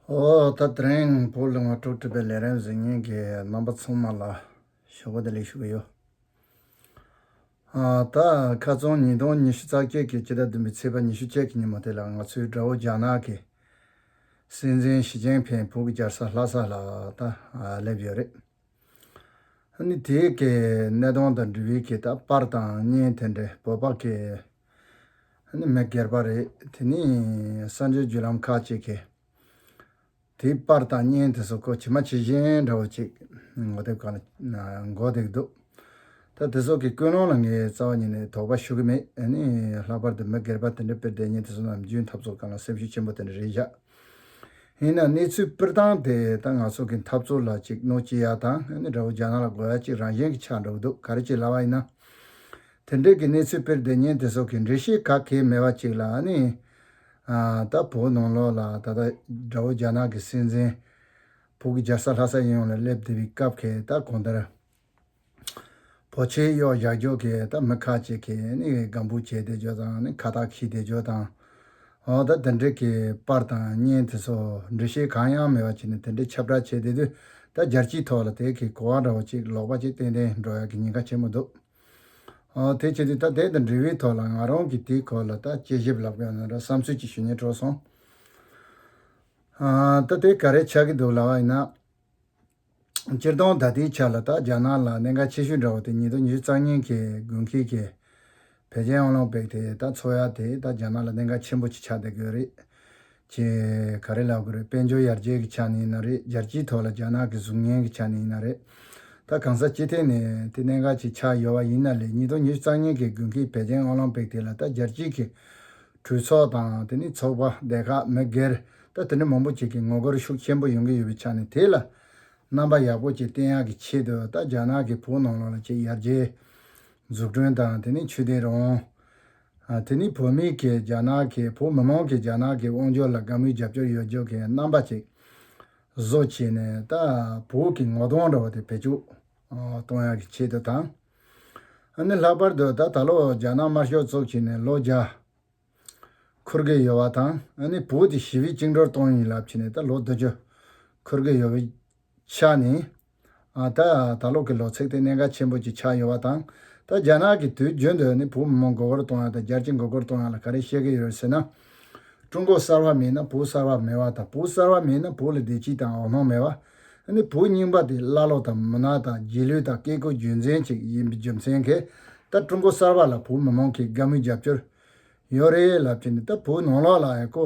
ཨོ་ད་དྲེང་པོ་ལུང་བ་དྲུག་བྲིས་པའི་ལས་རན་གཟིགས་བརྙན་གྱི་རྣམ་པ་ཚང་མ་ལ་ཞོགས་པ་དེ་ལེགས་ཞུ་གི་ཡོད། ད་ཁ་རྩང་ཉིས་སྟོང་ཉི་ཤུ་རྩ་བརྒྱད་ཀྱི་སྤྱི་ཟླ་བདུན་པའི་ཚེས་པ་ཉི་ཤུ་བཅས་ཀྱི་ཉིན་མོ་དེ་ལ་ང་ཚོའི་དགྲ་བོ་རྒྱ་ནག་གི་སྲིད་འཛིན་ཞི་ཅིན་ཕིན་བོད་ཀྱི་རྒྱལ་ས་ལྷ་ས་ལ་ད་སླེབས་ཡོད་རེད། ནི་དེའི་གི་གནས་སྟངས་དང་འབྲུ་རིགས་ཀྱི་ད་པར་དང་བརྙན་དེ་འདྲའི་བོད་པ་གི་ནི་མི་སྒེར་པ་རེད། དེ་ནི་གསར་འབྱོར་བརྒྱུད་ལམ་ཁག་ཅིག་གིས་དེའི་པར་དང་བརྙན་དེ་ཚོ་ཁོ་བྱེ་མ་བྱེ་གཞན་འདྲ་བོ་ཅིག་མགོ་དེབ་ཁག་ལ་མགོ་བཏེགས་འདུག་ད་དེ་ཚོ་གི་ཀུན་སློང་ལ་ངས་རྩ་བ་ཉིད་ནས་དོགས་པ་ཞུ་གི་མེད། ནི་ལྷག་པར་དུ་མི་སྒེར་པ་དེ་འདྲའི་དཔེར་འགྲེལ་བརྙན་དེ་ཚོ་ནམ་རྒྱུན་འཐབ་རྩོད་སྐབས་ལ་སེམས་ཤུགས་ཆེན་པོ་དེ་འདྲ་རེ་བཞག་ཡིན་ན་གནས་ཚུལ་སྤེལ་སྟངས་དེ་ད་ང་ཚོ་གི་འཐབ་རྩོད་ལ་ཅིག་གནོད་སྐྱེལ་ཡག་དང་ནི་འདྲ་བོ་རྒྱ་ནག་ལ་དགོས་ཡག་ཅིག་རང་བཞིན་གྱི་ཆགས་འགྲོ་གི་འདུག་ག་རེ་བྱེད་སླ་བ་ཡིན་ན་དེ་འབྲེལ་གྱི་གནས་ཚུལ་དཔེར་ལྡན་ཉན་བདེ་སོགས་ཀྱི་འགྲེལ་བཤད་ག་གེ་མེད་པ་ཅིག་ལ་ནི། ད་བོད་ནང་ལོགས་ལ་ད་ལྟ་དགྲ་བོ་རྒྱ་ནག་གི་སྲིད་འཛིན། བོད་ཀྱི་རྒྱལ་ས་ལྷ་ས་ཡིན་ཡོང་ལ་སླེབས་བསྡད་པའི་སྐབས་ཁེ་ད་གོང་ལྟར། བོད་ཆས་གཡོག་བཞག་རྒྱོག་གི་ད་མི་ཁ་ཅིག་གིས་ནི་སྒམ་བུ་བྱས་བསྡད་རྒྱོག་དང་ནི་ཁ་བཏགས་ཤིག་བསྡད་རྒྱོག་དང། འོ་ད་དེ་འབྲེལ་གྱི་པར་དང་བརྙན་དེ་ཚོ་འགྲེལ་བཤད་གང་ཡང་མེད་པ་བྱས་ནས་དེ་འདྲའི་ཁྱབ་བསྒྲགས་བྱས་བསྡད་དུས་ད་རྒྱལ་སྤྱིའི་ཐོག་ལ་དེ་གའི་གོ་བ་འདྲ་བོ་ཅིག་ལོག་པ་ཅིག་ཏན་ཏན་འགྲོ་ཡག་གི་ཉེན་ཁ་ཆེན་པོ་འདུག། ཨོ་དེ་ཁྱེད་ཀྱིས་ད་དེ་དང་འབྲེལ་བའི་ཐོག་ལ་ང་རང་གིས་དེའི་སྐོར་ལ་ད་དཔྱད་ཞིབ་ལབ་དགོས་ན་འདྲ་བསམ་ཚུལ་གྱི་ཞུ་སྙན་སྤྲོད་སོང། ད་དེ་ག་རེ་ཆགས་ཀྱི་འདུག་ལབ་བ་ཡིན་ན། སྤྱིར་བཏང་ད་ལྟའི་ཆ་ལ་ད་རྒྱ་ནག་ལ་གནད་འགག་ཆེ་ཤོས་འདྲ་བ་དེ་ཉིད་དུ་ཉི་ཤུ་རྩ་གཉིས་ཀྱི་དགུན་ཁའི་ཀྱི་བལ་ཆེན་ཨོ་ལིམ་པིག་དེ་ད་འཚོགས་ཡ་དེས་ད་རྒྱ་ནག་ལ་གནད་འགག་ཆེན་པོ་ཆགས་བསྡད་དགོས་རེད། ཁྱེད་ག་རེ་ལབ་གི་རེད་དཔལ་འབྱོར་ཡར་རྒྱས་ཀྱི་ཆ་ནས་ཡིན་ན་རེད་རྒྱལ་སྤྱིའི་ཐོག་ལ་རྒྱ་ནག་གི་གཟུགས་བརྙན་གྱི་ཆ་ནས་ཡིན་ན་རེད། ད་གང་ས་སྤྱི་ཐེངས་ནས་དེ་གནད་འགག་ཅིག་ཆགས་ཡོད་བ་ཡིན་ན་ལས་ཉིས་སྟོང་ཉེར་གཅིག་གཙང་སྙན་གྱི་དགུན་ཁའི་བད་ཀན་ཨོ་ལམ་པིག་དེ་ལ་ད་རྒྱལ་སྤྱིའི་གི་གྲོས་ཚོགས་དང་དེ་ནས་ཚོགས་པ་སྡེ་ཁག་མི་སྒེར་ད་དེ་འདྲ་མང་པོ་ཅིག་གི་ངོ་རྒོལ་ཤུགས་ཆེན་པོ་ཡོང་གི་ཡོད་བའི་ཆ་ནས་དེ་ལ་རྣམ་པ་ཡག་པོ་ཅིག་བསྟན་ཡག་གི་ཆེད་དུ་ད་རྒྱ་ནག་གི་བོད་ནང་ལོགས་ལ་ཅིག་ཡར་རྒྱས་འཛུགས་སྐྲུན་དང་དེ་ནས་ཆོས་དད་རང་དབང། དེ་ནི་བོད་མི་གིས་རྒྱ་ནག་གིས་བོད་མི་མང་གིས་རྒྱ་ནག་གི་དབང་བསྒྱུར་ལ་དགའ་མོས་རྒྱབ་སྐྱོར་ཡོད་རྒྱུ་གི་རྣམ་པ་ཅིག་བཟོ་བྱས་ནས་ད་བོད་ཀྱི་ངོ་གདོང་འདྲ་བ་དེ་བེད་སྤྱོད་གཏོང་ཡག་གི་ཆེད་དུ་དང། ཨ་ནི་ལྷག་པར་དུ་ད་ད་ལོ་རྒྱ་ནག་དམར་ཤོག་བཙུགས་ཕྱི་ནས་ལོ་བརྒྱ་འཁོར་གི་ཡོད་བ་དང་ཨ་ནི་བོད་དེ་ཞི་བའི་བཅིངས་འགྲོར་གཏོང་ཡིན་ལབ་ཕྱི་ནས་ད་ལོ་བདུན་ཅུ་འཁོར་གི་ཡོད་བས་ཆགས་ནི། ད་ད་ལོག་གི་ལོ་ཚིགས་དེ་གནད་འགག་ཆེན་པོ་གཅིག་ཆགས་ཡོད་པ་དང་ད་རྒྱ་ནག་གིས་དུས་རྒྱུན་དུ་ནི་བུ་མོ་མགོ་སྐོར་གཏོང་ཡག་དང་རྒྱལ་སྤྱི་མགོ་སྐོར་གཏོང་ཡག་ལ་ག་རེ་བཤད་ཀྱི་ཡོད་ཟེར་ན། ཀྲུང་གོ་གསར་བ་མེད་ན་བུ་གསར་བ་མེད་བ་དང་བུ་གསར་བ་མེད་ན་བུ་ལ་བདེ་སྐྱིད་དང་འོ་སྣང་མེད་བ། ནི་བུ་རྙིང་པ་དེ་ཀླ་ཀློ་དང་མུན་ནག་དང་རྗེས་ལུས་དང་བཀས་བཀོད་རྒྱུད་འཛིན་ཅིག་ཡིན་པའི་རྒྱུ་མཚན་གྱིས་ད་ཀྲུང་གོ་གསར་བ་ལ་བུ་མི་མང་གིས་དགའ་མོས་རྒྱབ་སྐྱོར་ཡོད་རེད་ལབ་ཀྱི་ནི་ད་བུ་ནང་ལོག་ལ་ཨ་ཀོ།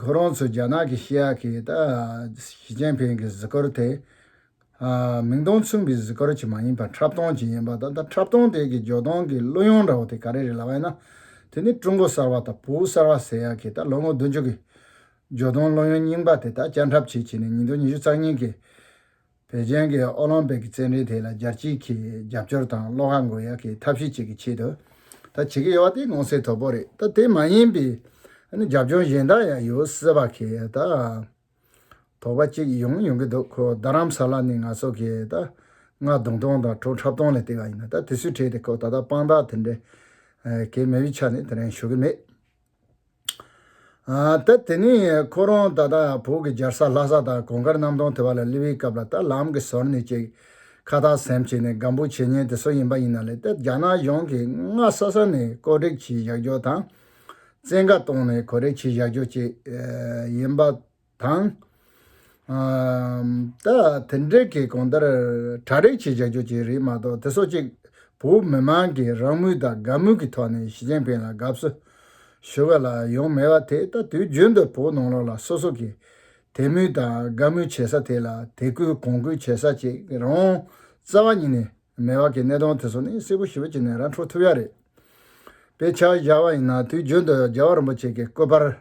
ཁོ་རང་ཚོས་རྒྱ་ནག་གི་ཤེས་ཡག་གིས་ད་ཞི་ཅིན་ཕིང་གི་གཟིགས་སྐོར་དེ། མིང་དོན་མཚུངས་པའི་གཟིགས་སྐོར་གྱི་མ་ཡིན་པར་འཁྲབ་སྟོན་གྱི་ཡིན་པ་དང་ད་འཁྲབ་སྟོན་དེ་གི་འཇོག་སྟངས་ཀྱི་གླུ་དབྱངས་འདྲ་བོ་དེ་ག་རེ་རེད་ལབ་ཨེ་ན། དེ་ནི་ཀྲུང་གོ་གསར་བ་དང་བོད་གསར་བ་ཟེར་ཡག་གིས་ད་ལོ་ངོ་བདུན་ཅུ་གི་འཇོག་སྟངས་གླུ་དབྱངས་རྙིང་པ་དེ་ད་བསྐྱར་འཁྲབ་བྱེད་ཀྱི་ནས་ཉིན་ཐོ་ཉི་ཤུ་རྩ་གཉིས་ཀྱི་བོད་བརྒྱན་གྱི་ཨོ་ལོང་པིག་གི་རྩེད་འགྲན་དེ་ལ་རྒྱལ་སྤྱིའི་གིས་རྒྱབ་སྐྱོར་དང་བློ་ཁ་འགུག་ཡག་གི་ཐབས་ཤེས་བྱེད་ཀྱི་ཆེད་དུ་ད་བྱེད་ཀྱི་ཡོད་པ་དེ་མངོན་གསལ་དོད་པོ་རེད་ད་དེ་མ་ཡིན་པའི་རྒྱབ་ལྗོངས་གཞན་དག་ཡང་ཡོད་སྲིད་པ་གས་ད་དོགས་པ་གཅིག་ཡོང་ཡོང་གི་འདུག་ཁོ་རྡ་རམ་ས་ལ་ནི་ང་ཚོ་གས་ད་རྔ་བརྡུང་སྟངས་དང་བྲོ་འཁྲབ་སྟངས་ལས་བལྟས་པ་ཡིན་ན་ད་དེ་སུས་ཁྲེལ་ཏེ་ཁོ་ད་ལྟ་དཔང་རྟགས་དེ་འདྲའི་གས་མེད་པའི་ཆ་ནས་དེ་རིང་ཞུ་གི་མེད། ད་དེ་ནས་ཁོ་རང་ད་ལྟ་བོད་ཀྱི་རྒྱལ་ས་ལྷ་ས་དང་གོང་དཀར་གནམ་སྟོང་དེ་བ་ལ་སླེབས་པའི་སྐབས་ལ་ད་ལམ་གྱི་ཟོར་ནས་ཅིག་ཁ་ཐག་སེམས་བྱས་ནས་སྒམ་པོ་བྱེད་ཉེན་དེ་ཚོ་ཡིན་པ་ཡིན་ན་ལེ་ད་རྒྱ་ནག་གཞུང་གིས་སྔ་ས་ས་ནས་བཀོད་སྒྲིག་གྱིས་བཞག་རྒྱུ་དང་བཙན་བཀའ་བཏང་ནས་གོ་རེ་གྱིས་བཞག་རྒྱུ་བཅས་ཡིན་པ་དང། ད་དེ་འབྲེལ་གྱི་གང་ལྟར་གྲ་རེག་བྱེད་བྱ་རྒྱུ་ཅིག་རེད་མ་གཏོགས་དེ་སོགས་གཅིག་བོད་མི་མང་གིས་རང་མོས་དང་དགའ་མོས་ཀྱི་ཐོག་ནས་ཞི་ཅིན་ཕིན་ལ་དགའ་བསུ་ཞུ་བ་ལ་ཡོང་མེད་པ་དེ་ད་དུས་རྒྱུན་དུ་བོད་ནང་ལོགས་ལ་སོ་སོ་གིས་དད་མོས་དང་དགའ་མོས་བྱེད་ས་དེ་ལ་དད་གུས་གོང་བཀུར་བྱེད་ས་ཅིག་རང་རྩ་བ་ཉིད་ནས་མེད་པ་གི་གནད་དོན་དེ་ཚོ་ནི་གསལ་པོ་ཞི་བ་ཅིག་ནས་ར་འཕྲོད་ཐུབ་ཡག་རེད། དཔེ་ཆ་བཞག་པ་ཡིན་ན་དུས་རྒྱུན་དུ་རྒྱལ་བ་རིན་པོ་ཆེ་གི་སྐུ་པར།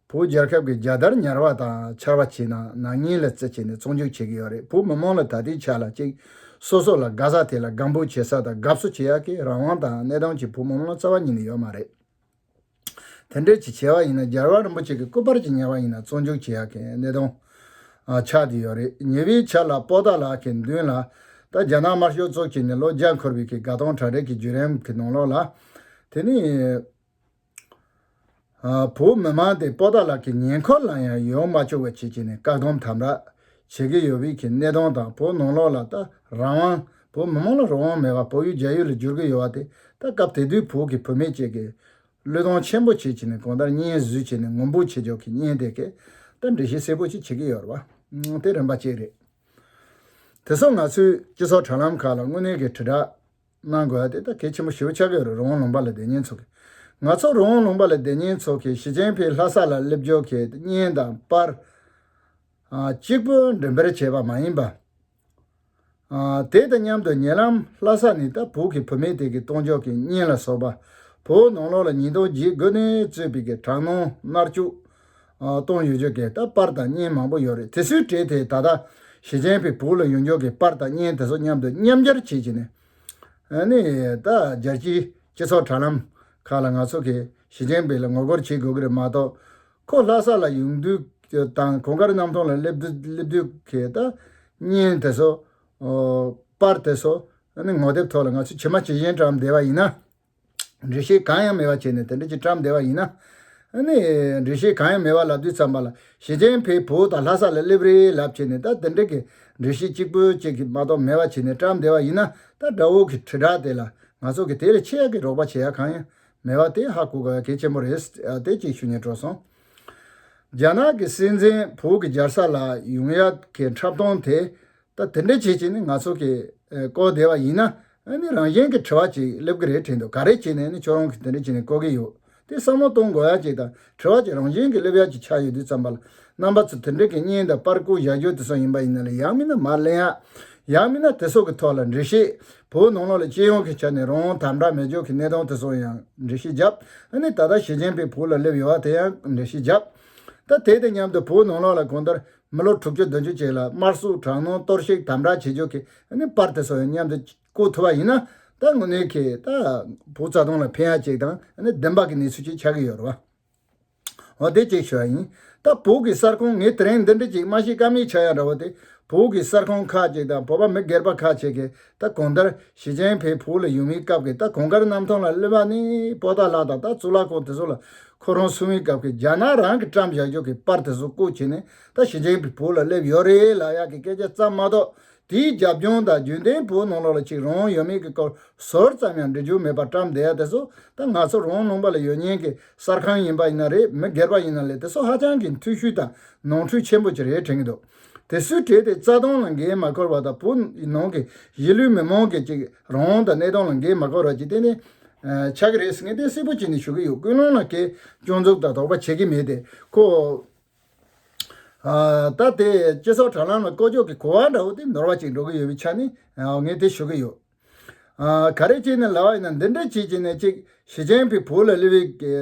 བོད་རྒྱལ་ཁབ་ཀྱི་རྒྱལ་དར་ཉར་བ་དང་འཕྱར་བ་བྱས་ན་ནག་ཉེས་ལ་རྩིས་བྱས་ནས་བཙོང་འཇུག་བྱེད་ཀྱི་ཡོད་རེད་བོད་མི་མང་ལ་ད་ལྟའི་ཆ་ལ་ཅིག་སོ་སོ་ལ་དགའ་ས་དེ་ལ་དགའ་འབོད་བྱེད་ས་དང་དགའ་བསུ་བྱེད་ཡག་གི་རང་དབང་དང་གནས་སྟངས་ཀྱི་བོད་མི་མང་རྩ་བ་ཉིད་ནས་ཡོད་མ་རེད། དེ་འདྲས་ཀྱི་བྱས་བ་ཡིན་ན་རྒྱལ་བ་རིན་པོ་ཆེ་གི་སྐུ་པར་གྱི་ཉར་བ་ཡིན་ན་བཙོང་འཇུག་བྱེད་ཡག་གི་གནས་སྟངས་ཆགས་ཀྱི་ཡོད་རེད་ཉེ་བའི་ཆ་ལ་སྤོ་སྟག་ལགས་ཀྱི་མདུན་ལ་ད་རྒྱ་ནག་དམར་ཤོག་གཙོ་བྱས་ནས་ལོ་བརྒྱ་འཁོར་བའི་གི་དགའ་སྟོང་གྲ་སྒྲིག་གི་བརྒྱུད་རིམ་གི་ནང་ལོགས་ལ་དེ་ནི། བོད་མི་མང་སྟེ་སྤོ་སྟག་ལགས་ཀྱི་ཉེ་འཁོར་ལ་ཡང་ཡོང་མ་བཅུག་པ་བྱེད་ཀྱི་ནས་བཀག་སྡོམ་དམ་དྲག་བྱེད་ཀྱི་ཡོད་བོད་ཀྱི་གནས་སྟངས་དང་བོད་ནང་ལོག་ལ་ད་རང་དབང་བོད་མི་མང་ལ་རང་དབང་མེད་པར་བོད་ཡུལ་རྒྱ་ཡུལ་ལ་བསྒྱུར་གྱི་ཡོད་བ་དེ་ད་སྐབས་དེ་དུས་བོད་ཀྱི་བུད་མེད་བཅས་ཀྱིས་བློས་གཏོང་ཆེན་པོ་བྱེད་ཀྱི་ནས་གང་ལྟར་སྙན་བཟོས་བྱས་ནས་ངུ་འབོད་བྱེད་ཆོག་གི་སྙན་དེ་གས་ད་འགྲེལ་བཤད་གསལ་པོ་ཅིག་བྱེད་ཀྱི་ཡོད་རེད་བ་དེ་རིམ་པ་གཅིག་རེད། དེ་སོགས་ང་ཚོས་སྤྱི་ཚོགས་དྲ་ལམ་ཁག་ལ་དངོས་གནས་ཀྱི་དྲིལ་བསྒྲགས། གནང་དགོས་པ་དེ་དག་གལ་ཆེན་པོ་ཞེ་བོ་ཆགས་ཀྱི་ཡོད་རེད་རོང་བོ་ལུང་པ་ལ་བདེ་སྙན་ཚོགས་ཀྱིས་ང་ཚོ་རོང་བོ་ལུང་པ་ལ་བདེ་སྙན་ཚོགས་ཀྱིས་ཞི་ཅན་ཕེའི་ལྷ་ས་ལ་སླེབས་འབྱོར་གྱི་བརྙན་དང་པར་གཅིག་པུ་འགྲེམས་སྤེལ་བྱས་པ་མ་ཡིན་པ། དེ་དང་མཉམ་དུ་ཉེ་ལམ་ལྷ་ས་ནས་ད་བུག་གི་བུད་མེད་དེ་གའི་གཏོང་འཇོག་གི་བརྙན་ལ་སོགས་པ་བོད་ནང་ལོགས་ལ་ཉིས་སྟོང་བརྒྱད་དགུ་ནས་གཙོས་པའི་གྲངས་ནོར་མནར་གཅོད་གཏོང་ཡོད་ཆོག་གི་ད་པར་དང་བརྙན་མང་པོ་ཡོད་རེད་དེ་ཚོའི་གྲས་དེ་ད་ལྟ་ཞེ་ཆེན་པའི་བུག་ལ་ཡོང་ཆོག་གི་པར་དང་བརྙན་དེ་ཚོ་མཉམ་དུ་མཉམ་སྦྱར་བྱེད་ཅི་ནས་ནི་ད་རྒྱལ་སྤྱིའི་སྤྱི་ཚོགས་དྲ་ལམ་ཁག་ལ་ང་ཚོ་གིས་ཞེ་ཆེན་པའི་ལ་ངོ་རྒོལ་བྱེད་དགོས་ཀྱི་རེད་མ་གཏོགས་ཁོ་ལྷ་ས་ལ་ཡོང་དུས་དང་གོང་དཀར་གནམ་ཐང་ལ་སླེབས་དུས་ཀྱི་ད་བརྙན་དེ་ཚོ་པར་དེ་ཚོ་ནི་ངོ་དེབ་ཐོག་ལ་ང་ཚོས་ཇི་མ་ཇི་བཞིན་བཀྲམ་བསྡད་པ་ཡིན་ན། འགྲེལ་བཤད་གང་ཡང་མེད་པ་བྱས་ནས་དེ་འདྲ་ཅིག་བཀྲམ་བསྡད་པ་ཡིན་ན། ནི། འགྲེལ་བཤད་གང་ཡང་མེད་པ་ལབ་དུས་ཙམ་པ་ལ་ཞི་ཅན་ཕེའི་བུ་དང་ལྷ་ས་ལ་སླེབས་རེས་ལབ་བྱས་ནས་ད་དེ་འདྲ་གི་འགྲེལ་བཤད་གཅིག་པོ་གཅིག་གིས་མ་གཏོགས་མེད་པ་བྱས་ནས་བཀྲམ་བསྡད་པ་ཡིན་ན་ད་དགྲ་བོ་གི་དྲིལ་བསྒྲགས་དེ་ལ་ང་ཚོ་གིས་དེ་ལས་ཆེ་ཡག་གི་རོགས་པ་བྱེད་ཡག་གང་ཡང་མེད་པ་དེ་ཧ་གོ་དགོས་གལ་ཆེན་པོ་རེད་དེ་གཅིག་ཞུ་ཉན་སྤྲོ་སོང། རྒྱ་ནག་གི་སྲིད་འཛིན་བོད་ཀྱི་འཇར་ས་ལ་ཡོང་ཡག་གི་འཁྲབ་སྟོང་དེ་ད་དེ་འདྲ་བྱེད་བྱེད་ནི་ང་ཚོ་གི་ལྐོག་བདེ་བ་ཡིན་ན་ནི་རང་གཞན་གི་དྲི་བ་ཅིག་སླེབས་ཀྱི་རེད་དྲན་འདུག་ག་རེ་བྱེད་ནས་ནི་ཁྱོད་རང་གིས་དེ་འདྲ་བྱེད་ནས་ལྐོག་གི་ཡོད་དེ་བསམ་བློ་གཏོང་དགོས་ཡ་ཅིག་དང་དྲི་བ་ཅིག་རང་གཞན་གི་སླེབས་ཡ་ཅིག་ཆགས་ཡོད་དུས་ཙམ་པ་ལ་རྣམ་པ་ཚོ་དེ་འདྲ་གི་བརྙན་དང་པར་སྐུར་བཞག་རྒྱུ་དེ་སོགས་ཡིན་པ་ཡིན་ན་ལ་ཡག་མིན་ན་མར་གླེང་ཡ་ཡག་མིན་ན་དེ་སོགས་ཀི་ཐོག་ལ་འབྲེལ་བཤད་བོད་ནང་ལོག་ལ་སྤྱི་ཡོངས་ཀི་ཆ་ནས་རང་དམ་དྲག་མེ་སྒྱོགས་ཀི་གནས་སྟངས་དེ་སོགས་ཡང་འབྲེལ་བཤད་བརྒྱབ་ནི་ད་ལྟ་ཞི་ཅིན་ཕིན་བོད་ལ་སླེབས་ཡོད་བ་དེ་ཡང་འབྲེལ་བཤད་བརྒྱབ་ད་དེ་དང་མཉམ་དུ་བོད་ནང་ལོག་ལ་གང་ལྟར་མི་ལོ་དྲུག་ཅུ་བདུན་ཅུ་ཅིག་ལ་དམར་སུག་དྲག་གནོན་གཏོར་བཤིག་དམ་དྲག་བྱེད་རྒྱུ་གི་པར་དེ་ཚོ་མཉམ་དུ་བསྐུར་ཐུབ་པ་ཡིན་ན་ད་དངོས་གནས་ཁྱེད་ད་བུ་རྩ་སྟོང་ལ་ཕན་ཡག་ཅིག་དང་བདེན་པ་གི་གནས་ཚུལ་ཅིག་ཆགས་ཀྱི་ཡོད་རེད་བ། འོ་དེ་གཅིག་ཞུ་བ་ཡིན། ད་བོད་ཀྱི་གསར་ཁང་ངས་དེ་རིང་འདི་འདྲི་གཅིག་མ་ཤེས་ཀ་མེད་ཆགས་ཡག་འདྲ་བོ་དེ་བོད་ཀྱི་གསར་ཁང་ཁག་ཅིག་དང་བོད་པ་མི་སྒེར་པ་ཁག་ཅིག་གིས་ད་གོང་ལྟར་ཞི་ཅེན་ཕེ་བོད་ལ་ཡོང་བའི་སྐབས་ཀྱི་ད་གོང་དཀར་གནམ་ཐང་ལ་གློད་པ་ནི་པོ་ཏཱ་ལགས་དང་ད་གཙུག་ལག་ཁང་དེ་ཚོ་ལ་ཁོ་རང་སོང་བའི་སྐབས་ཀྱི་རྒྱ་ནག་རང་གི་བཀྲམ་བཞག་རྒྱུག་གི་པར་དེ་ཚོ་བརྐོ་བྱས་ནས་ད་ཞི་ཅེན་ཕེ་བོད་ལ་སླེབས་ཡོད་རེད་ལགས་ཡག་གི་སྐད་ཆ་ཙམ་མ་གཏོགས་དེའི་རྒྱབ་ལྗོངས་དང་རྒྱུན་ལྡན་བོད་ནང་ལོགས་ལ་ཅིག་རང་ཡོད་མེད་ཀྱི་སྐོར་ཟོར་ཙམ་ཡང་འབྲི་རྒྱུ་མེད་པར་བཀྲམ་བསྡད་ཡ་དེ་ཚོ་ད་ང་ཚོ་རང་ནང་པ་ལ་ཡོད་ཉེན་གྱི་གསར་ཁང་ཡིན་པ་ཡིན་ན་རེད་མི་སྒེར་པ་ཡིན་ན་ལས་དེ་ཚོ་ཧ་ཅང་གི་འཐུས་ཤུལ་དང་ནོར་འཁྲུལ་ཆེན་པོ་ཅིག་རེད་དྲན་གྱི་འདུག། དེ་སུས་བྲིས་ཏེ་རྩ་དོན་ལ་འགན་མ་ཁུར་བ་དང་བོད་ནང་གི་གཞིས་ལུས་མི་མང་གི་ཅིག་རང་དབང་དང་གནས་སྟངས་ལ་འགན་མ་ཁུར་བ་ཅིག་གཏན་ནས་ཆགས་ཀྱི་རེད་ཟེར་མཁན་གཏན་སིལ་པོ་བྱས་ནས་ཞུ་གི་ཡོད་ཀུན་སློང་ལ་ཁེ་གཅོང་འཛུགས་དང་དོགས་པ་བྱེད་ཀྱི་མེད་དེ་ཁོ། ད་དེ་སྤྱི་ཚོགས་དྲ་ལམ་ལ་ཀོ་ཅོག་གི་གོ་བ་འདྲ་བོ་དེ་ནོར་བ་ཅིག་འགྲོ་གི་ཡོད་པའི་ཆ་ནས་ངས་དེ་ཞུ་གི་ཡོད། ག་རེ་བྱས་ནས་ལ་བ་ཡིན་ན་འདི་འདྲ་བྱེད་ཅེས་ནས་གཅིག་ཞི་ཅན་ཕེའི་བོད་ལ་ལི་བའི་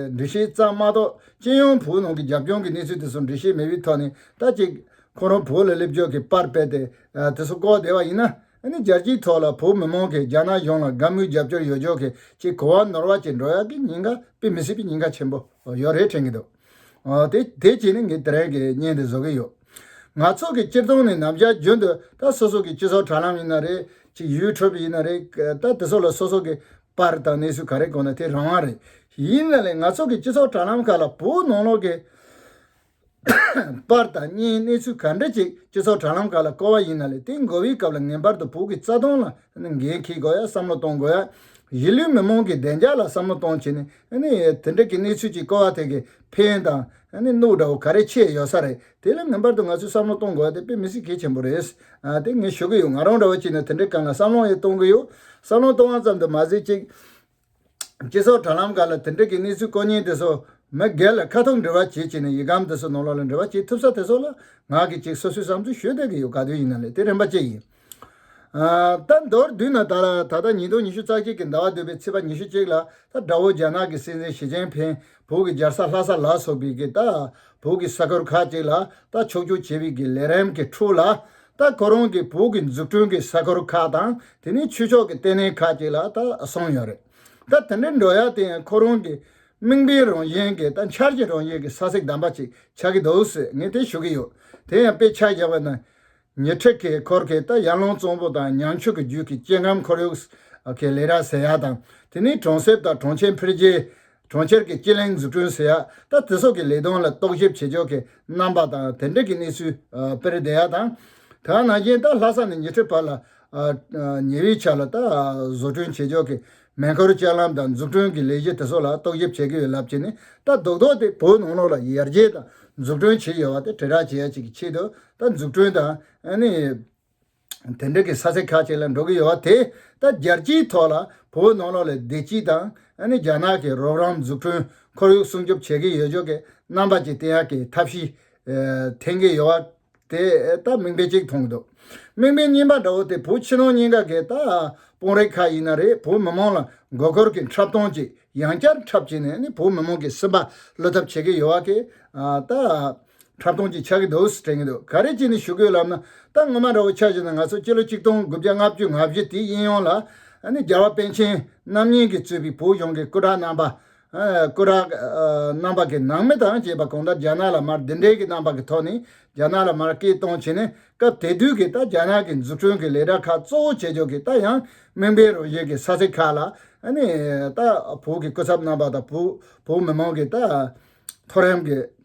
འབྲི་ཤེས་རྩ་མ་གཏོགས་སྤྱི་ཡོངས་བོད་ནང་གི་རྒྱབ་ལྗོངས་ཀྱི་གནས་ཚུལ་དེ་ཚོ་འབྲི་ཤེས་མེད་པའི་ཐོག་ནས་ད་ཅིག་ཁོང་རང་བོད་ལ་སླེབས་ཕྱོགས་ཀྱི་པར་སྤེལ་ཏེ་དེ་ཚོ་བཀོག་བསྡད་པ་ཡིན་ན་ནི་རྒྱལ་སྤྱིའི་ཐོག་ལ་བོད་མི་མང་གིས་རྒྱ་ནག་གཞུང་ལ་དགའ་མོས་རྒྱབ་སྐྱོར་ཡོད་ཆོག་གི་ཅིག་གོ་བ་ནོར་བ་བྱེད་འགྲོ་ཡག་གི་ཉེན་ཁ་དཔེ་མི་སྲིད་པའི་ཉེན་ཁ་ཆེན་པོ་ཡོད་རེད་དྲན་གྱི་འདུག། དེ་དེ་བྱས་ནས་ངས་དེ་རིང་གི་བརྙན་དེ་བཟོ་གི་ཡོད། ང་ཚོ་གི་སྤྱིར་བཏང་ནས་ནམ་ཞར་རྒྱུན་དུ་ད་སོ་སོ་གི་སྤྱི་ཚོགས་དྲ་ལམ་ཡིན་ན་རེད་ཅིག་ཡུལ་འཕྲོད་པ་ཡིན་ན་རེད་ད་དེ་སོགས་ལ་སོ་སོ་གི་པར་དང་གནས་ཚུལ་ག་རེ་གོ་ན་དེ་རང་དབང་རེད། ཡིན་ན་ལེ་ང་ཚོ་གི་སྤྱི་ཚོགས་དྲ་ལམ་ཁག་ལ་བོད་ནང་ལོག་གི་པར་དང་བརྙན་གནས་ཚུལ་ག་འདྲ་ཅིག་སྤྱི་ཚོགས་དྲ་ལམ་ཁག་ལ་བཀོལ་བ་ཡིན་ན་ལེ་དེ་འགོ་བའི་སྐབས་ལ་ངེས་པར་དུ་བོད་ཀྱི་རྩ་དོན་ལ་འགན་འཁྱེར་དགོས་ཡ་བསམ་བློ་གཏོང་དགོས་ཡ་གཞིས་ལུས་མི་མང་གི་བདེ་འཇགས་ལ་བསམ་བློ་གཏོང་བྱས་ནས་དེ་འདྲ་གི་གནས་ཚུལ་ཅིག་ཀོ་བ་ཐེ་གི་ཕན་དང་གནུག་འདྲ་བོ་ག་རེ་ཆེ་ཡོད་ས་རེད་དེ་ལ་ངེས་པར་དུ་ང་ཚོས་བསམ་བློ་གཏོང་དགོས་བ་དེ་དཔེ་མི་སྲིད་གལ་ཆེན་པོ་རེད་དེ་ངས་ཞུ་གི་ཡོད་ང་རང་འདྲ་བ་ཅིག་ནས་དེ་འདྲའི་སྐབས་ལ་བསམ་བློ་ཡང་གཏོང་གི་ཡོད་བསམ་བློ་གཏོང་བ་ཙམ་དུ་མ་ཟད་ཅིག་སྤྱི་ཚོགས་དྲ་ལམ་འགའ་ལ་དེ་འདྲ་གི་གནས་ཚུལ་ཀོ་ཉེན་དེ་ཚོ་མི་སྒེར་ལ་ཁ་ཐུག་འབྲི་བ་བྱེད་ཅིག་ནས་ཡིག་སྒམ་དེ་ཚོ་ནང་ལོག་ལ་འབྲི་བ་བྱེད་ཐུབ་ས་དེ་ཚོ་ལ་ང་གིས་ཅིག་སོ་སོའི་བསམ་ཚུལ་ཞུ་བསྡད་གི་ཡོད་ག་དུས་ཡིན་ན་ལས་དེ་རན་པ་ཅིག་ཡིན། ད་མདོར་བསྡུས་ན་ད་ལྟ་ཉིས་སྟོང་ཉི་ཤུ་རྩ་གཅིག་གི་ཟླ་བ་བདུན་པའི་ཚེས་པ་ཉི་ཤུ་གཅིག་ལ་ད་དགྲ་བོ་རྒྱ་ནག་གི་སྲིད་འཛིན་ཞི་ཅེན་ཕེན་བོད་ཀྱི་རྒྱལ་ས་ལྷ་ས་ལ་སོགས་པའི་གི་ད་བོད་ཀྱི་ས་ཁུལ་ཁག་ཅིག་ལ་ད་ཕྱོགས་བསྐྱོད་བྱས་པའི་གི་ལས་རིམ་གི་འཁྲུག་ལ་ད་ཁོ་རང་གི་བོད་ཀྱི་འཛུགས་སྐྲུན་གི་ས་ཁུལ་ཁག་དང་དེ་ནས་ཆོས་ཕྱོགས་གི་ལྟེ་གནས་ཁག་ཅིག་ལ་ད་སོང་ཡོད་རེད་ད་དེ་འདྲའི་འགྲོ་ཡ་དེ་ཡང་ཁོ་རང་གི་དམིགས་འབེན་རང་བཞིན་གི་ད་འཆར་གྱི་རང་བཞིན་གི་ས་ཚིགས་བདམས་པ་ཅིག་ཆགས་གི་འདུག་ཟེར་ངས་དེ་ཞུ་གི་ཡོད་དེ་ཡང་དཔེ་ཆ་བཞག་པ་ན། ཉེ་འཁྲིས་ཀྱི་འཁོར་གྱི་རྟ་གཡང་ལུང་གཙང་པོ་དང་ཉང་ཆུ་གི་རྒྱུད་ཀྱི་སྐྱེ་ཁམས་ཁོར་ཡུག་གི་ལས་གྲྭ་ཟེར་ཡག་དང་དེ་ནི་གྲོང་གསེབ་དང་གྲོང་ཁྱེར་འཕེལ་རྒྱས། གྲོང་ཁྱེར་གྱི་སྐྱེ་གླིང་འཛུགས་སྐྲུན་ཟེར་ཡག་ད་དེ་སོགས་ཀྱི་ལས་དོན་ལ་རྟོག་ཞིབ་བྱེད་ཕྱོགས་ཀྱི་རྣམ་པ་དང་དེ་འབྲེལ་གྱི་གནས་ཚུལ་སྤེལ་བསྡད་ཡག་དང། དེའང་ནང་རྐྱེན་ད་ལྷ་ས་ནས་ཉེ་འཁྲིས་བར་ལ་ཉེ་བའི་ཆ་ལ་ད་བཟོ་སྐྲུན་བྱེད་ཕྱོགས་ཀྱི་མེ་འཁོར་ལྕགས་ལམ་དང་འཛུགས་སྐྲུན་གྱི་ལས་གཞི་དེ་སོགས་ལ་རྟོག་ཞིབ་བྱེད་ཀྱི་ཡོད་ལབ་ཀྱི་ནས་ད་རྡོག་རྡོག་སྟེ་བོད་ནང་ལོགས་ལ་ཡར་རྒྱས་དང་འཛུགས་སྐྲུན་བྱས་ཡོད་པ་དེ་དྲིལ་བསྒྲགས་བྱེད་ཡག་ཅིག་གི་ཆེད་དུ་ད་འཛུགས་སྐྲུན་དང། དེ་འབྲེལ་གྱི་ས་ཚིགས་ཁག་ཅིག་ལ་འགྲོ་གི་ཡོད་བ་དེས་ད་རྒྱལ་སྤྱིའི་ཐོག་ལ་བོད་ནང་ལོགས་ལས་བདེ་སྐྱིད་དང། རྒྱ་ནག་གི་རོགས་རམ་འཛུགས་སྐྲུན་ཁོར་ཡུག་སྲུང་སྐྱོབ་བྱེད་ཀྱི་ཡོད་ཆོག་གི་རྣམ་པ་ཅིག་བསྟན་ཡག་གི་ཐབས་ཤེས་འཐེན་གྱི་ཡོད་བ་དེ་ད་དམིགས་འབེན་གཅིག་མཐོང་གི་འདུག་དམིགས་འབེན་རྙིང་པ་འདྲ་བོ་དེ་བོད་ཕྱི་ནང་གཉིས་ཀ་གི་ད་དཔུང་རེག་ཁ་ཡིན་ན་རེད་བོད་མི་མང་ལ་མགོ་སྐོར་གྱི་འཁྲབ་སྟོང་ཅིག་ཡང་བསྐྱར་འཁྲབ་བྱས་ནས་བོད་མི་མང་གི་སེམས་པ་བསླུ་ཐབས་བྱེད་ཀྱི་ཡོད་བ་དེ་ད། འཁྲབ་སྟོང་ཅིག་ཆགས་ཀྱི་འདུག་ཟེར་དྲན་གྱི་འདུག་ག་རེ་བྱས་ནས་ཞུ་དགོས་ལབ་ན་ད་སྔོན་མ་ར་བོ་ཆགས་བྱས་ན་ང་ཚོ་སྤྱི་ལོ་གཅིག་སྟོང་དགུ་བརྒྱ་ལྔ་བཅུ་ང་བཞི་དེའི་དབྱིན་ཡོངས་ལ་ནི་རྒྱལ་བ་པཎ་ཆེན་རྣམ་གཉིས་ཀྱིས་གཙོས་པའི་བོད་གཞུང་གི་སྐུ་དྲག་རྣམ་པ། སྐུ་དྲག། རྣམ་པ་གི་ནང་མི་དང་བཅས་པ་གང་ལྟར་རྒྱ་ནག་ལ་མར་འདི་འདྲའི་གི་རྣམ་པ་གི་ཐོག་ནས་རྒྱ་ནག་ལ་མར་སྐད་གཏོང་བྱས་ནས་སྐབས་དེ་དུས་ཀྱི་ད་རྒྱ་ནག་གི་འཛུགས་སྐྲུན་གི་ལས་གྲྭ་ཁག་གཙོ་བོ་བྱེད་ཕྱོགས་ཀྱི་ད་ཡང་མིང་དཔེ་རུ་བཞེད་ཀྱི་ས་ཚིགས་ཁག་ལ་ནི་ད་བོད་ཀྱི་སྐུ་ཚབ་རྣམ་པ་དང་བོད་མི་མང་གི་ད་མཐོ་རིམ་གྱི།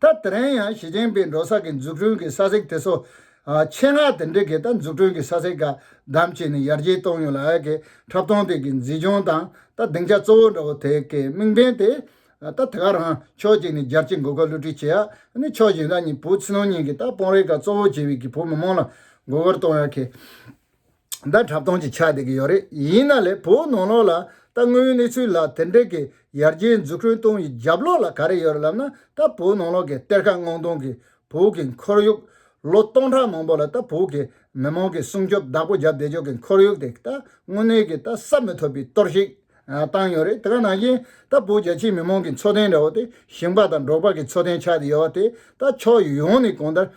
ད་དེ་རིང་ཡང་ཞི་ཅིན་ཕིང་འགྲོ་ས་གི་འཛུགས་སྐྲུན་གི་ས་ཚིགས་དེ་ཚོ། ཆེད་མངགས་དེ་འདྲི་གི་ད་འཛུགས་སྐྲུན་གི་ས་ཚིགས་བཀག་སྡམ་བྱས་ནས་ཡར་རྒྱས་གཏོང་ཡོད་ལ་ཨ་ཀི་འཁྲབ་སྟོང་དེ་གི་འཛིན་སྐྱོང་དང་ད་སྡིངས་ཆ་གཙོ་བོ་འདྲ་བོ་དེ་གི་དམིགས་འབེན་དེ། ད་དེ་ག་རང་ཕྱོགས་གཅིག་ནས་རྒྱལ་སྤྱི་འགོ་ཁ་བསླུ་བྲིད་བྱེད་ཡག་ནི་ཕྱོགས་གཞན་ལ་ནི་བོད་ཕྱི་ནང་གཉིས་གི་ད་དཔོན་རིགས་ག་གཙོ་བོ་བྱས་བའི་གི་བོད་མི་མང་ལ་མགོ་སྐོར་གཏོང་ཡག་གི། ཟླ་འཁྲབ་སྟོང་ཅིག་ཆགས་བསྡད་ཀྱི་ཡོད་རེད་ཡིན་ན་ལས་བོད་ནང་ལོགས་ལ་ད་དངོས་ཡོད་གནས་ཚུལ་ལ་དེ་འདྲས་ཀྱི་ཡར་རྒྱས་འཛུགས་སྐྲུན་གཏོང་ཡི་རྒྱབ་ལོགས་ལ་ག་རེ་ཡོད་རེད་ལབ་ན་ད་བོད་ནང་ལོགས་ཀྱི་གཏེར་ཁ་སྔོག་འདོང་གི་བོད་ཀྱི་འཁོར་ཡུག་ལོ་སྟོང་ཕྲག་མང་པོ་ལ་ད་བོད་ཀྱི་མི་དམངས་ཀྱི་སྲུང་སྐྱོབ་བདག་པོ་རྒྱབ་བསྡད་ཆོག་གི་འཁོར་ཡུག་དེ་ད་དངོས་གནས་ཀྱི་ད་ས་མི་ཐོབ་པའི་གཏོར་ཞིག་བཏང་ཡོད་རེད་དེ་ག་ནང་བཞིན་ད་བོད་རྒྱ་ཆེའི་མི་དམངས་ཀྱི་འཚོ་རྟེན་འདྲ་བོ་དེ་ཞིང་པ་དང་འབྲོག་པ་ཀྱི་འཚོ་རྟེན་ཆགས་བསྡད་ཡོད་བ་དེ་ད་ཕྱོགས་ཡོངས་ནས་གོང་ལྟར་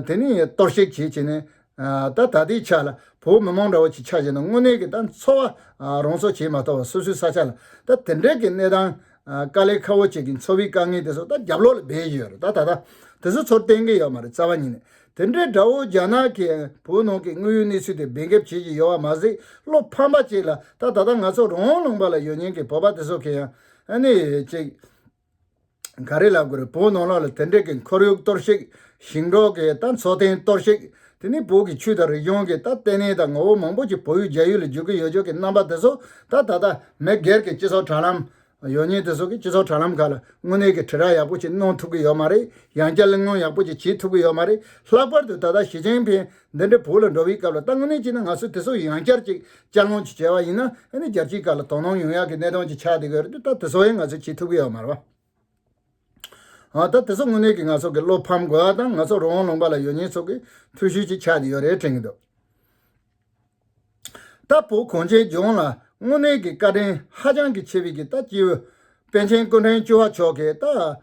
དེ་ནི་གཏོར་བཤིག་བྱེད་བྱེད་ནས་ད་ལྟའི་ཆ་ལ་བོད་མི་མང་དྲག་བོ་ཆེ་ཆགས་བཞིན་དུ་དངོས་གནས་ཀྱི་ད་འཚོ་བ་རང་སྲོག་བྱས་མ་གཏོགས་བ་སོ་སོའི་ས་ཆ་ལ་ད་དེ་འདྲས་ཀྱི་གནས་སྟངས་དཀའ་ལས་ཁ་བོ་བཅས་ཀྱི་འཚོ་བའི་དཀའ་ངལ་དེ་ཚོ་ད་རྒྱབ་ལོག་ལ་སྦས་བཞིན་ཡོད་རེད་ད་ད་ད་དེ་ཚོ་ཚོར་བརྟེན་གྱི་ཡོད་མ་རེད་རྩ་བ་ཉིད་ནས་དེ་འདྲའི་དགྲ་བོ་རྒྱ་ནག་གིས་བོད་ནང་གི་དངོས་ཡོད་གནས་ཚུལ་དེ་སྦས་འགེབས་བྱེད་བཞིན་ཡོད་བ་མ་ཟད་བློ་ཕམ་པ་གཅིག་ལ་ད་ད་ད་ང་ཚོ་རང་ལུང་པ་ལ་ཡོད་ཉེན་གྱི་བོད་པ་དེ་ཚོ་གི་ཡང་ནི་ཅིག། ག་རེ་ལབ་དགོས་རེད་བོད་ནང་ལ་ལ་དེ་འདྲས་ཀྱི་འཁོར་ཡུག་གཏོར་བཤིག་ཞིང་འབྲོག་གི་ད་འཚོ་རྟེན་གཏོར་བཤིག་དེ་ནས་བོད་ཀྱི་ཆུ་དང་རི་གཞུང་གི་ད་ལྟེ་གནས་དང་ངོ་བོ་མང་པོ་ཅིག་བོད་ཡུལ་རྒྱ་ཡུལ་ལ་འཇུག་གི་ཡོད་ཆོག་གི་རྣམ་པ་དེ་ཚོ་ད་ད་ད་མི་སྒེར་གྱི་སྤྱི་ཚོགས་དྲ་ལམ་ཡོད་ཉེན་དེ་ཚོ་གི་སྤྱི་ཚོགས་དྲ་ལམ་ཁག་ལ་དངོས་གནས་ཀྱི་དྲི་ར་ཡག་པོ་ཅིག་གནོང་ཐུབ་གི་ཡོད་མ་རེད་ཡང་བསྐྱར་གླེང་སློང་ཡག་པོ་ཅིག་བྱེད་ཐུབ་གི་ཡོད་མ་རེད་ལྷག་པར་དུ་ད་ད་ཞི་ཅིང་ཕིང་འདི་འདྲའི་བོད་ལ་འགྲོ་བའི་སྐབས་ལ་ལྟ་ངོས་ནས་བྱས་ན་ང་ཚོས་དེ་སོགས་ཡང་བསྐྱར་ཅིག་དཔྱད་ལོང་ཅིག་བྱས་པ་ཡིན་ན་ཨ་ནི་རྒྱལ་སྤྱིའི་སྐབས་ལ་དོ་སྣང་ཡོང་ཡག་གི་གནད་དོན་ཅིག་ཆགས་བསྡད་དགོས་རེད་ད་དེ་སོགས་ཡང་ང་ཚོས་བྱེད་ཐུབ་ཀྱི་ཡོད་མ་རེད། ཨ་ད་དེ་སོགས་དངོས་གནས་ཀྱི་ང་ཚོ་གི་བློ་ཕམ་དགོས་པ་དང་ང་ཚོ་རོང་བོ་ལུང་པ་ལ་ཡོད་ཉེས་ཚོགས་ཀྱི་འཐུས་ཤུལ་ཅིག་ཆགས་བསྡད་ཡོད་རེད་དྲན་གྱི་འདུག། ལྟ་བུ་གོང་ཆེན་ལྗོངས་ལ་དངོས་གནས་ཀྱི་བཀའ་དྲིན་ཧ་ཅང་གི་ཆེ་བའི་གི་རྟ་སྐྱེ་བོ་པན་ཆེན་སྐུ་ཕྲེང་བཅུ་བ་མཆོག་གི་རྟ།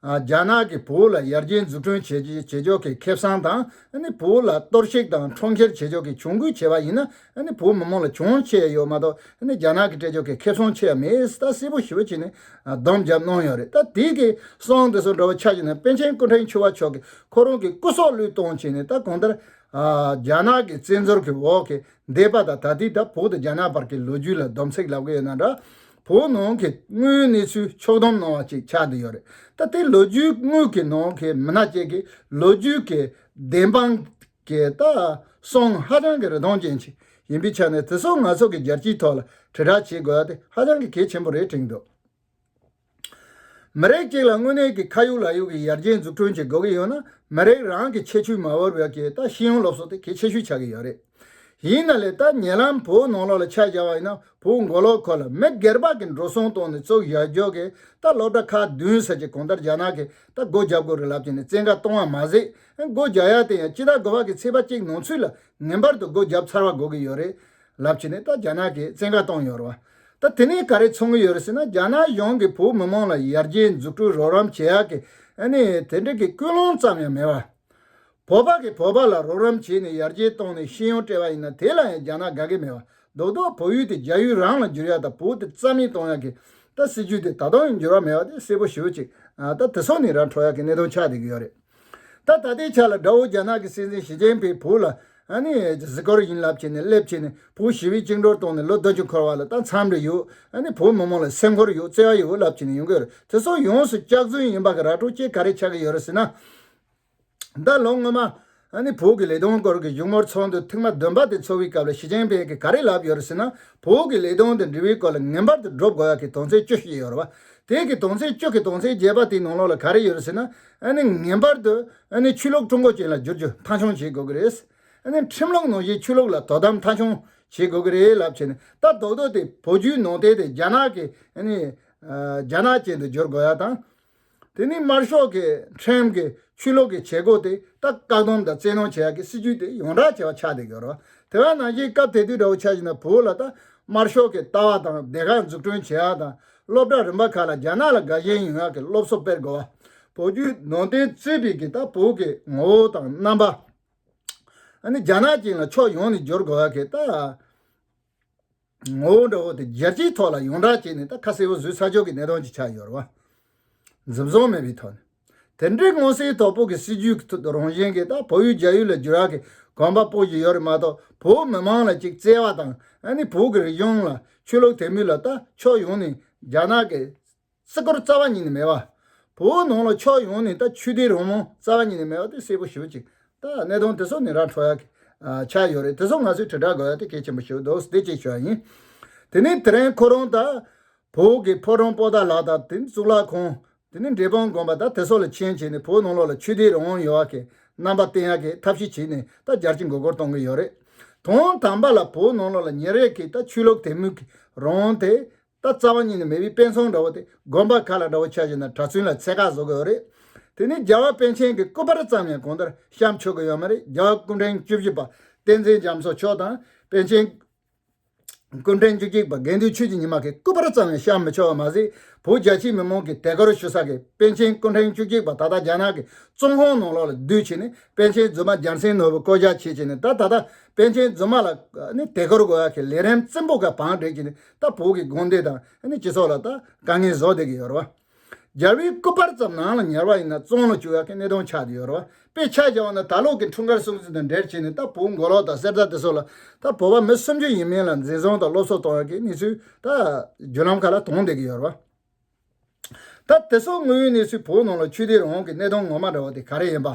རྒྱ་ནག་གི་བོད་ལ་ཡར་རྒྱས་འཛུགས་སྐྲུན་བྱེད་བྱེད་ཕྱོགས་ཀྱི་ཁེབས་སང་དང་བོད་ལ་གཏོར་བཤིག་དང་འཕྲོག་འཁྱེར་བྱེད་ཕྱོགས་ཀྱི་གྱོང་གུད་ཆེ་བ་ཡིན་ན་བོད་མི་མང་ལ་གྱོང་ཆེ་ཡོད་མ་གཏོགས་རྒྱ་ནག་གི་སྤྲད་ཕྱོགས་ཀྱི་ཁེབས་སང་ཆེ་བ་མེད་ས་གསལ་པོ་ཞུ་བ་བྱས་ནས་བསྡོམས་བརྒྱབ་གནང་ཡོད་རེད་ད་དེ་གི་སང་དེ་སང་འགྲོ་བ་ཆགས་ཀྱི་ནས་པན་ཆེན་སྐུ་ཕྲེང་བཅུ་བ་མཆོག་གི་ཁོ་རང་གི་སྐུ་སྲོག་བློས་གཏོང་བྱས་ནས་ད་གང་ལྟར་རྒྱ་ནག་གི་བཙན་འཛུལ་གྱི་འོག་གི་འདས་པ་དང་ད་ལྟའི་སྐབས་བོད་དང་རྒྱ་ནག་བར་གྱི་ལོ་རྒྱུས་ལ་སྡོམ་ཚིག་ལབ་གི་ཡོད་ན་འདྲ། བོད་ནང་གི་དངུལ་གནས་ཚུལ་ཕྱོགས་སྡོམ་གནང་བ་ཅིག་ཆགས་བསྡད་ཡོད་རེད། ད་ལྟའི་ལོ་རྒྱུས་དངུལ་གྱི་ནང་གི་མི་སྣ་བཅས་ཀྱི་ལོ་རྒྱུས་ཀྱི་བདེན་དཔང་གི་ལྟ་སྲུང་ཧ་ཅང་གི་རི་མཐོང་ཅན་ཞིག་ཡིན་པའི་ཆ་ནས་དེ་ཚོ་ང་ཚོ་གི་རྒྱལ་སྤྱིའི་ཐོག་ལ་དྲིལ་བསྒྲགས་བྱེད་དགོས་ཡ་དེ་ཧ་ཅང་གི་གལ་ཆེན་པོ་རེད་དྲན་འདུག། མི་རིགས་གཅིག་ལ་དངོས་གནས་ཀྱི་ཁ་ཡོད་ལག་ཡོད་ཀྱི་ཡར་རྒྱས་འཛུགས་སྐྲུན་བྱེད་དགོས་ཀྱི་ཡོད་ན་མི་རིགས་རང་གི་ཁྱད་ཆོས་མ་བོར་བའི་གྱི་རྟ་ཤི་ཡོང་སློབ་གསོ་དེ་གལ་ཆེ་ཤོས་ཆགས་ཀྱི་ཡོད་རེད། ཡིན་ན་ལས་ལྟ་ཉེ་ལམ་བོད་ནང་ལོག་ལ་ཆ་བཞག་པ་ཡིན་ན་བོད་མགོ་ལོག་ཁོ་ལ་མི་སྒེར་པགས་ཀྱི་འགྲོ་སོང་བཏང་ནས་གཙོ་བཞག་འཇོག་གི་རྟ་སློབ་གྲྭ་ཁག་བདུན་ཟེར་གྱི་གང་ལྟར་རྒྱ་ནག་གི་རྟ་སྒོ་བརྒྱབ་དགོས་རེད་ལབ་ཀྱི་ནས་བཙན་བཀའ་གཏོང་བ་མ་ཟད་སྒོ་བརྒྱབ་ཡག་དེ་ཡང་སྤྱི་རྟ་སྒོ་བག་གི་ཚེས་པ་གཅིག་ནང་ཚུད་ལ་ངེས་པར་དུ་སྒོ་བརྒྱབ་ཚར་བ་དགོས་ཀྱི་ཡོད་རེད། རླབས་ཆེ་ནི་ད་རྒྱ་ནག་གིས་བཙན་བཀའ་བཏང་ཡོད་རེད་བ། ད་དེ་ནས་ག་རེ་འཚོང་གི་ཡོད་རེད་ཟེར་ན་རྒྱ་ནག་གཞུང་གིས་བོད་མི་མང་ལ་ཡར་རྒྱས་འཛུགས་སྐྲུན་རོགས་རམ་བྱེད་ཡག་གི་ནི་དེ་འདྲ་གི་ཀུན་སློང་ཙམ་ཡང་མེད་བ། བོད་པ་གིས་བོད་པ་ལ་རོགས་རམ་བྱས་ནས་ཡར་རྒྱས་བཏང་ནས་ཤེས་ཡོན་སྤྲད་བ་ཡིན་ན་དེ་ལ་ཡང་རྒྱ་ནག་དགའ་གི་མེད་བ། རྡོག་རྡོག་བོད་ཡུལ་དེ་རྒྱ་ཡུལ་རང་ལ་འགྱུར་ཡག་དང་བོད་དེ་རྩ་མེད་གཏོང་ཡག་གི་ད་སྲིད་ཇུས་དེ་ད་དུང་ཡང་འགྱུར་བ་མེད་བ་དེ་གསལ་པོ་ཞུ་གཅིག་ད་དེ་སོགས་ནི་ར་འཕྲོ་ཡག་གི་གནད་དོན་ཆགས་བསྡད་གི་ཡོད་རེད། ད་ད་ལྟའི་ཆ་ལ་དགྲ་བོ་རྒྱ་ནག་གི་སྲིད་འཛིན་ཞི་ཅེན་ཕིའི་བུ་ལ་ཨ་ནི་གཟིགས་སྐོར་ཡིན་ལབ་བྱས་ནས་སླེབས་བྱས་ནས་བུ་ཞི་བའི་བཅིངས་འགྲོར་གཏོང་ནས་ལོ་བདུན་ཅུ་འཁོར་བ་ལ་ད་མཚམས་རེ་ཡོད་ཨ་ནི་བོད་མི་མང་ལ་སེམས་ཁོར་ཡོད་བརྩེ་བ་ཡོད་ལབ་བྱས་ནས་ཡོང་གི་རེད་དེ་སོགས་ཡོངས་སུ་སྐྱག་རྫུན་ཡིན་པ་ག་ར་སྤྲོ་སྐྱིད་ག་རེ་ཆགས་ཀྱི་ཡོད་རེད་ཟེར་ན། ད་ལོ་སྔོན་མ་ཨ་ནི་བོད་ཀྱི་ལས་དོན་སྐོར་གྱི་བཞུགས་མོལ་ཚོགས་འདུ་ཐེངས་མ་བདུན་པ་དེ་འཚོགས་པའི་སྐབས་ལ་ཞི་ཅེན་ཕིན་གྱིས་ག་རེ་ལབ་ཡོད་རེད་ཟེར་ན་བོད་ཀྱི་ལས་དོན་དང་འབྲེལ་བའི་སྐོར་ལ་ངན་པར་དུ་བསྒྲུབ་དགོས་ཡག་གི་དོན་ཚན་བཅུ་ཞིག་ཡོད་རེད་བ། དེ་གི་དོན་ཚན་བཅུ་གི་དོན་ཚན་བརྒྱད་པ་དེའི་ནང་ལོགས་ལ་ག་རེ་ཡོད་རེད་ཟེར་ན། ངེས་པར་དུ་ཆུ་ལོག་ཀྲུང་གོ་ཅན་ལ་བསྒྱུར་རྒྱུ་མཐའ་འཁྱོངས་བྱེད་དགོས་ཀྱི་རེད། ཁྲིམས་ལུགས་ནང་བཞིན་ཆུ་ལོག་ལ་དོ་དམ་མཐའ་འཁྱོངས་བྱེད་དགོས་ཀྱི་རེད་ལབ་བྱས་ནས་ལྟ་རྡོག་རྡོག་སྟེ་བོད་བརྒྱུད་ནང་བསྟན་དེ་རྒྱ་ནག་གི་རྒྱ་ནག་ཅན་དུ་བསྒྱུར་དགོས་ཡ་དང། དེ་ནི་དམར་ཤོག་གི་ཁྲིམས་ཀྱི་ཆུ་ལོག་གི་བྱེད་སྒོ་དེ་ལྟ་བཀག་སྡོམ་དང་བཙན་གནོན་བྱེད་ཡ་གི་སྲིད་ཇུས་དེ་ཡོངས་བསྒྲགས་བྱས་པ་ཆགས་བསྡད་ཀྱི་རོ། དེ་བས་ན་གཞིས་སྐབས་དེ་དུས་དགྲ་བོ་ཆགས་བཞིན་པའི་བོད་ལ་ལྟ་དམར་ཤོག་གི་ལྟ་བ་དང་སྡེ་ཁག་འཛུགས་སྐྲུན་བྱེད་ཡ་དང། སློབ་གྲྭ་རིམ་པ་ཁག་ལ་རྒྱ་ནག་ལ་དགའ་ཞེན་ཡིན་ངག་གི་སློབ་གསོ་སྤེལ་དགོས། བོད་བརྒྱུད་ནང་བསྟན་རྩོད་པའི་གི་ཏག་བོད་ཀྱི་ངོ་བོ་དང་རྣམ་པ། རྒྱ་ནག་ཅན་ལ་ཕྱོགས་ཡོངས་ནས་སྦྱོར་དགོས་པ་གི་ཏག་ངོ་བོ་འདྲ་བོ་དེ་རྒྱལ་སྤྱིའི་ཐོག་ལ་ཡོངས་གྲགས་བྱས་ནས་ཏག་ཁ་གསལ་བོ་བཟོས་ཚར་ཆོག་གི་གནད་དོན་ཅིག་ཆགས་ཡོད་རེད་བ། འཛིན་བཟུང་མེད་པའི་ཐོག་ནས། དེ་འདྲའི་སྔོན་སེལ་དོ་ཕོག་གི་སྲིད་ཇུས་ཁྲོད་དུ་རང་བཞིན་གྱིས་ད་བོད་ཡུལ་རྒྱ་ཡུལ་ལ་འགྱུར་བ་གི་གོམ་པ་སྤོ་བཞིན་ཡོད་རེད་མ་གཏོགས་བོད་མི་མང་ལ་གཅིག་བརྩེ་བ་དང་ཨ་ནི་བོད་ཀྱི་རིག་གཞུང་ལ་ཆོས་ལུགས་དད་མོས་ལ་ད་ཕྱོགས་ཡོངས་ནས་རྒྱ་ནག་གི་སྲིད་སྐོར་རྩ་བ་ཉིད་ནས་མེད་པ། བོད་ནང་ལ་ཕྱོགས་ཡོངས་ནས་ད་ཆོས་དད་རང་དབང་རྩ་བ་ཉིད་ནས་མེད་པ་དེ་གསལ་པོ་ཞུ་ཅིག་ད་གནད་དོན་དེ་ཚོ་ནི་ར་འཕྲོ་ཡག་གི་ཆགས་ཡོད་རེད་དེ་ཚོ་ང་ཚོས་དྲིལ་བསྒྲགས་དགོས་ཡ་དེ་གལ་ཆེན་པོ་ཞིག་འདུག་དེ་གཅིག་ཞུ་བ་ཡིན། དེ་ནས་དེ་རིང་ཁོ་རང་ད་བོད་ཀྱི་ཕོ་བྲང་པོ་ཏཱ་ལགས་དང་དེ་ནི་གཙུག་ལག་ཁང་དེ་ནས་འབྲས་སྤང་བསྒོམ་པ་དང་དེ་སོགས་ལ་མཆན་བྱས་ནས་བོད་ནང་ལོགས་ལ་ཆོས་སྡེའི་རང་དབང་ཡོང་བ་གི་རྣམ་པ་བསྟན་ཡག་གི་ཐབས་ཤེས་བྱས་ནས་ད་བརྒྱར་ཅི་འགོ་སྐོར་གཏོང་གི་ཡོད་རེད། དོན་དམ་པ་ལ་བོད་ནང་ལོགས་ལ་ཉེར་ཡོད་གི་ད་ཆོས་ལུགས་དད་མོས་གི་རང་དབང་དེ། ད་རྩ་བ་ཉིད་ནས་མེས་པོའི་དཔེ་མཚོན་འདྲ་བོ་དེ་དགོན་པ་ཁག་ལ་འདྲ་བོ་ཆགས་བཞིན་ན་གྲྭ་བཙུན་ལ་ཚད་བཀག་བཟོ་གི་ཡོད་རེད། དེ་ནས་རྒྱལ་བ་པཎ་ཆེན་གི་སྐུ་པར་ཙམ་ཡང་གང་ལྟར་བཤམས་ཆོག་གི་ཡོད་མ་རེད་རྒྱལ་བ་སྐུ་འཕྲེང་བཅུ་བཞི་པ་བསྟན་འཛིན་རྒྱ་མཚོ་མཆོག་དང་པཎ་ཆེན། སྐུ་ཕྲེང་བཅུ་གཅིག་པ་དགེ་འདུན་ཆོས་ཀྱི་ཉི་མ་གིས་སྐུ་པར་བརྩམས་ནས་བཤམ་མི་ཆོག་པ་མ་ཟད་བོད་རྒྱ་ཆེའི་མི་མང་གིས་དད་གུར་ཞུ་ས་གིས་པཎ་ཆེན་སྐུ་ཕྲེང་བཅུ་གཅིག་པ་ད་ལྟ་རྒྱ་ནག་གི་ཙུང་ཧོང་ནང་ལོགས་ལ་བསྡུས་ཕྱིན་ནས་པཎ་ཆེན་རྫུན་མ་རྒྱལ་མཚན་ནོར་བུ་བསྐོ་བཞག་བྱེད་ཅིང་ནས་ད་ད་ལྟ་པཎ་ཆེན་རྫུན་མ་ལ་དད་གུར་དགོས་ཀྱི་ལས་རིམ་བཙན་པོ་འགའ་བང་བསྒྲིགས་ཀྱིས་ནས་ད་བོད་ཀྱི་དགོན་སྡེ་དང་སྤྱི་ཚོགས་ལ་ད་དཀའ་ངལ་བཟོ་བསྡད་ཀྱི་ཡོད་རེད་བ། སྦྱར་བའི་སྐུད་པར་ཙམ་ནང་ལ་ཉར་བ་ཡིན་ན་བཙོང་ལ་བཅུག་ཡག་གི་ནད་གདོན་ཆགས་ཀྱི་ཡོད་རོ། དཔེ་ཆ་སྦྱར་བ་ན་ད་ལོག་གི་འཁྲུངས་སྐར་སྲུང་བརྩི་དང་འབྲེལ་བྱས་ནས་ད་བོད་མགོ་ལོག་དང་གསེར་རྟ་དེ་སོགས་ལ་ད་བོད་པ་མི་སུམ་ཅུ་ཡིན་མིན་ལ་འཛིན་བཟུང་དང་སློབ་གསོ་གཏོང་ཡག་གི་གནས་ཚུལ་ད་བརྒྱུད་ལམ་ཁག་ལ་དོང་བསྡད་ཀྱི་ཡོད་རོ། ད་དེ་སོགས་དངོས་ཡོད་གནས་ཚུལ་བོད་ནང་ལ་ཆོས་དད་རང་དབང་གི་གནད་དོན་ངོ་མ་འདྲ་བ་དེ་ག་རེ་ཡིན་པ།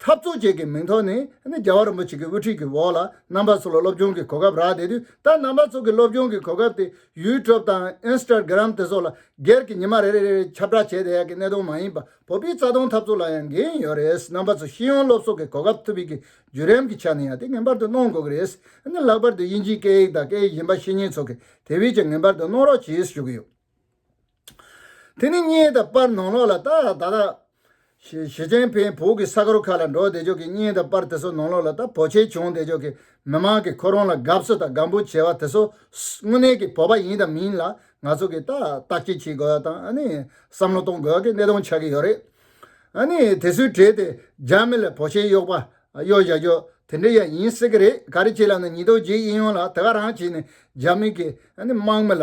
འཐབ་རྩོད་བཅས་ཀྱི་མིང་ཐོག་ནས་རྒྱལ་བ་རིན་པོ་ཆེ་གི་དབུ་ཁྲིད་ཀྱི་འོག་ལ་རྣམ་པ་ཚོ་ལ་སློབ་སྦྱོང་གི་གོ་སྐབས་རག་བསྡད་དུས་ད་རྣམ་པ་ཚོ་གི་སློབ་སྦྱོང་གི་གོ་སྐབས་དེ YouTube དང Instagram དེ་ཚོ་ལ་སྒེར་གྱི་ཉི་མ་རེ་རེ་རེ་རེ་ཁྱབ་བསྒྲགས་བྱས་བསྡད་ཡག་གི་གནད་དོན་མ་ཡིན་པ་བོད་པའི་རྩ་དོན་འཐབ་རྩོད་ལ་ཡང་འགན་ཡོད་རེད་རྣམ་པ་ཚོ་ཤེས་ཡོན་སློབ་གསོ་གི་གོ་སྐབས་ཐུབ་པའི་གི་བརྒྱུད་རིམ་གི་ཆ་ནས་ཡང་དེ་ངེས་པར་དུ་གནང་དགོས་གི་རེད་ལྷག་པར་དུ་དབྱིན་ཇིའི་སྐད་ཡིག་དང་སྐད་ཡིག་གཞན་པ་ཤེས་ཉེན་ཚོ་གི་དེ་བས་ཀྱང་ངེས་པར་དུ་གནང་རོགས་གྱིས་ཞུ་གི་ཡོད། དེ་ནི་བརྙན་དང་པར་ནང་ལོགས་ལ་ལྟ། ད་ལྟ། ཞེ་ཆེན་ཕན་བོད་ཀྱི་ས་གོར་ཁ་ལ་འགྲོ་བདེ་ཕྱོགས་ཀྱི་བརྙན་དང་པར་དེ་ཚོ་ནང་ལོགས་ལ་ལྟ་བོ་ཆེ་བྱུང་བདེ་ཕྱོགས་ཀྱི་མི་མང་གི་ཁོ་རང་ལ་དགའ་བསུ་དང་དགའ་འབོད་བྱེད་པ་དེ་ཚོ་དངོས་གནས་ཀྱི་བོད་པ་ཡིན་དང་མིན་ལ་ང་ཚོ་གིས་ལྟ་བསྐྱེད་བྱེད་དགོས་པ་དང་བསམ་བློ་གཏོང་དགོས་ཀྱི་གནད་དོན་ཆགས་ཀྱི་ཡོད་རེད། དེ་ཚོའི་གྲས་དེ་རྒྱ་མི་ལ་བོ་ཆེ་གཡོག་པ་གཡོག་བཞག་རྒྱུ་དེ་འདྲ་ཡང་ཡིན་སྲིད་ཀྱི་རེད་ག་རེ་བྱས་ལབ་ན་ཉིས་སྟོང་བརྒྱད་ཨེ་ཡོང་ལ་དེ་ག་རང་བྱས་ནས་རྒྱ་མི་གིས་དམག་མི་ལ་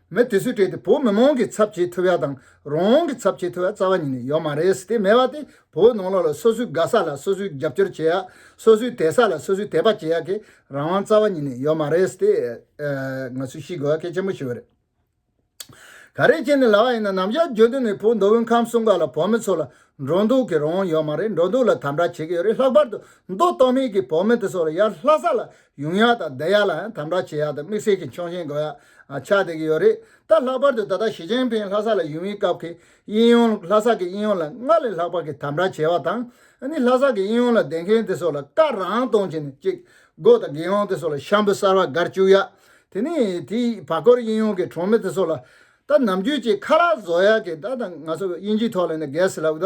མི་དེ་ཚོས་བྲེལ་ཏེ་བོད་མི་མང་གི་ཚབ་བྱེད་ཐུབ་ཡ་དང་རང་དབང་གི་ཚབ་བྱེད་ཐུབ་ཡ་རྩ་བ་ཉིད་ནས་ཡོད་མ་རེད་དེ་མེད་པ་དེ་བོད་ནང་ལོག་ལ་སོ་སོའི་དགའ་ས་ལ་སོ་སོས་རྒྱབ་སྐྱོར་བྱེད་ཡ་སོ་སོའི་དད་ས་ལ་སོ་སོས་དད་པ་བྱེད་ཡ་གི་རང་དབང་རྩ་བ་ཉིད་ནས་ཡོད་མ་རེད་དེ། ང་ཚོས་ཤེས་དགོས་ཡ་གལ་ཆེན་པོ་ཞིག་ཡོད་རེད། ག་རེ་བྱས་ནས་ལ་བ་ཡིན་ན་ནམ་ཞར་བརྗོད་དོན་ནི་བོད་མདོ་དབུས་ཁམས་གསུམ་ཀ་ལ་བོད་མི་ཚོ་ལ་འགྲོ་འདུག་གི་རང་དབང་ཡོད་མ་རེད་འགྲོ་འདུག་ལ་དམ་དྲག་བྱེད་ཀྱི་ཡོད་རེད་ལྷག་པར་དུ་མདོ་སྟོད་སྨད་ཀྱི་བོད་མི་དེ་ཚོ་ལ་ཡར་ལྷ་ས་ལ་ཡུང་ཡ་དང་བདེ་ཡ་ལ་ཡང་དམ་དྲག་བྱེད་ཡ་དང་དམིགས་བསལ་གྱི་མཆོང་བཞིན་དགོས་ཡ་ཆགས་བསྡད་ཀྱི་ཡོད་རེད་ད་ལྷག་པར་དུ་ད་ལྟ་ཞི་ཅིན་ཕིན་ལྷ་ས་ལ་ཡོང་བའི་སྐབས་ཀྱི་དབྱིན་ཡོང་ལྷ་ས་ཀྱི་དབྱིན་ཡོང་ལ་སྔར་ལས་ལྷག་པར་གྱི་དམ་དྲག་བྱེད་པ་དང་ནི་ལྷ་ས་ཀྱི་དབྱིན་ཡོང་ལ་ལྡན་མཁན་དེ་ཚོ་ལ་བཀའ་རང་གཏོང་བྱེད་ནས་ཅིག་སྒོ་དང་དགེ་འོང་དེ་ཚོ་ལ་ཤམ་བུ་གསར་བ་སྒར་བཅུག་ཡ་དེ་ནི་དེ་བར་སྐོར་དབྱིན་ཡོང་གི་གྲོང་མི་དེ་ཚོ་ལ་ད་ནམ་རྒྱུན་ཅིག་ཁ་རག་བཟོ་ཡ་གི་ད་ང་ཚོ་དབྱིན་ཇིའི་ཐོག་ལ་ནི་གས་ལབ་ད་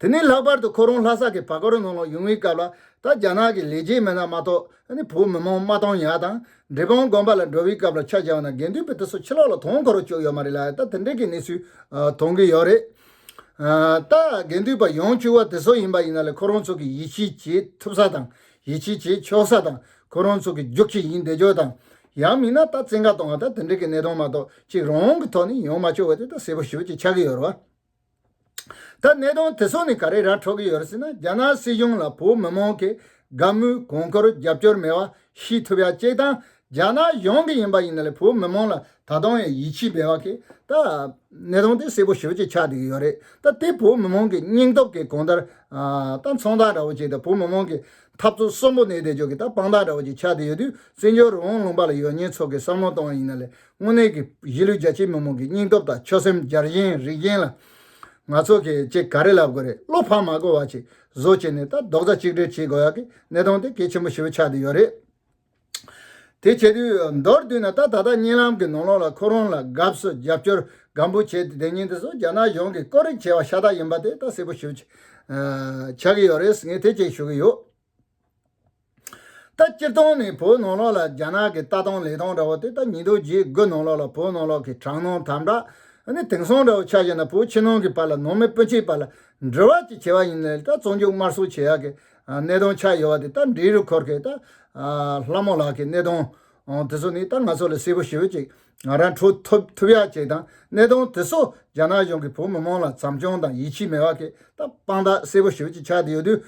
དེ་ནས་ལྷག་པར་དུ་ཁོ་རང་ལྷ་ས་ཀྱི་བར་སྐོར་ནང་ལ་ཡོང་བའི་སྐབས་ལ་ད་རྒྱ་ནག་གི་ལས་བྱེད་མི་སྣ་མ་གཏོགས་བོད་མི་མང་མ་དང་ཡང་དང་འབྲེལ་དཔང་དགོན་པ་ལ་འགྲོ་བའི་སྐབས་ལ་ཕྱག་བྱ་བ་ན་དགེ་འདུན་པའི་དུས་སུ་ཕྱི་ལོགས་ལ་དོང་གོ་རུ་བཅུག་ཡོད་མ་རེད་ལ་ད་དེ་འདྲའི་གི་གནས་ཚུལ་མཐོང་གི་ཡོད་རེད། ད་དགེ་འདུན་པ་ཡོང་བཅུག་བ་དེ་སོགས་ཡིན་པ་ཡིན་ན་ལས་ཁོ་རང་ཚོ་གི་ཡིད་ཆེས་བྱེད་ཐུབ་ས་དང་ཡིད་ཆེས་བྱེད་ཆོག་ས་དང་ཁོ་རང་ཚོ་གི་རྒྱུགས་ཁྱི་ཡིན་བསྡད་ཆོག་དང་ཡང་མིན་ན་ད་བཙན་བཀའ་བཏང་བ་ད་དེ་འདྲའི་གི་གནས་སྟངས་མ་གཏོགས་གཅིག་རང་གི་ཐོག་ནས་ཡོང་མ་བཅུག་བ་དེ་ད་གསལ་པོ་ཞུ་ཅིག་ཆགས་གི་ཡོད་རེད་བ། ད་གནས་སྟངས་དེ་ཚོ་ནི་ག་རེ་ར་འཕྲོད་ཀྱི་ཡོད་ཟེར་ན་རྒྱ་ནག་སྲིད་གཞུང་ལ་བོད་མི་མང་གི་དགའ་མོས་གོང་བཀུར་རྒྱབ་སྐྱོར་མེད་པ་ཤེས་ཐུབ་ཡ་གཅིག་དང་རྒྱ་ནག་གཞུང་གི་ཡིན་པ་ཡིན་ན་ལས་བོད་མི་མང་ལ་ད་དུང་ཡང་ཡིད་ཆེས་བེད་བ་གི་ད་གནས་སྟངས་དེ་སེ་པོ་ཞིབ་ཅིག་ཆགས་བསྡད་ཀྱི་ཡོད་རེད་ད་དེ་བོད་མི་མང་གི་སྙིང་སྟོབས་ཀྱི་གོང་ལྟར་ད་མཚང་རྟགས་འདྲ་བོ་ཅིག་དང་བོད་མི་མང་གི་འཐབ་རྩོད་གསོན་པོ་གནས་བསྡད་ཆོག་གི་ད་དཔང་རྟགས་འདྲ་བོ་ཅིག་ཆགས་བསྡད་ཡོད་དུས་བཙན་བྱོལ་རོང་ལུང་པ་ལ་ཡོད་ཉེས་ཚོགས་ཀྱི་བསམ་བློ་གཏོང་བ་ཡིན་ན་ལས་དངོས་གནས་ཀྱི་གཞིས་ལུས་རྒྱ་ཆེའི་མི་མང་གི་སྙིང་སྟོབས་དང་ཆོད་སེམས་རྒྱ་རྒྱན་རིག་རྒྱན་ལ། ང་ཚོ་གིས་ཅི་ག་རེ་ལབ་དགོས་རེད་བློ་ཕམ་མ་དགོས་བ་ཅིག་བཟོ་བྱས་ནས་ད་རྡོག་རྩ་གཅིག་སྒྲིལ་བྱེད་དགོས་ཡག་གི་གནད་དོན་དེ་གལ་ཆེན་པོ་ཞེ་བོ་ཆགས་དུས་ཡོད་རེད། དེ་བྱེད་དུས་མདོར་བསྡུས་ན་ད་ད་ལྟ་གཉིད་ལམ་གྱི་ནོར་ལོག་ལ་ཁོ་རང་ལ་དགའ་བསུ་རྒྱབ་སྐྱོར་སྒམ་པོ་བྱས་ཏེ་དེ་ཉིན་དེ་སོགས་རྒྱ་ནག་གཞུང་གིས་བཀོད་རིགས་བྱས་བ་ཤ་སྟག་ཡིན་པ་དེ་ད་གསལ་པོ་ཞུ་ཆགས་ཀྱི་ཡོད་རེད་ངས་དེ་བཅས་ཞུ་གི་ཡོད། ད་སྤྱིར་བཏང་ནི་བོད་ནང་ལོགས་ལ་རྒྱ་ནག་གི་ལྟ་སྟངས་ལས་སྟངས་འདྲ་བོ་དེ་ད་ཉིད་རྡོ་རྗེའི་སྒོ་ནང་ལོགས་ལ་བོད་ནང་ལོགས་ཀྱི་དྲང་སྣང་དམ་དྲག་ནི་དེང་སང་འདྲ་བོ་ཆགས་བཞིན་ན་བོད་ཕྱི་ནང་གི་བར་ལ་ནང་མི་སྤུན་མཆེད་བར་ལ་འབྲེལ་བ་ཅིག་བྱེད་པ་ཡིན་ནའི་ད་བཙོན་འཇུག་དམར་གསོད་བྱེད་ཡག་གི་གནད་དོན་ཆགས་ཡོད་བ་དེ་ད་འབྲི་རུ་འཁོར་གི་ད་ལྷ་མོ་ལགས་ཀྱི་གནད་དོན་དེ་ཚོ་ནི་ད་ང་ཚོ་ལ་གསལ་པོ་ཞིབ་ཅིག་ང་རང་འཕྲོད་ཐུབ་ཐུབ་ཡག་ཅིག་དང་གནད་དོན་དེ་ཚོ་རྒྱ་ནག་གཞུང་གི་བོད་མི་མང་ལ་བྱམས་སྐྱོང་དང་ཡིད་ཆེས་མེད་བ་གི་ད་དཔང་རྟགས་གསལ་པོ་ཞིབ་ཅིག་ཆགས་དེ་ཡོད་དུས།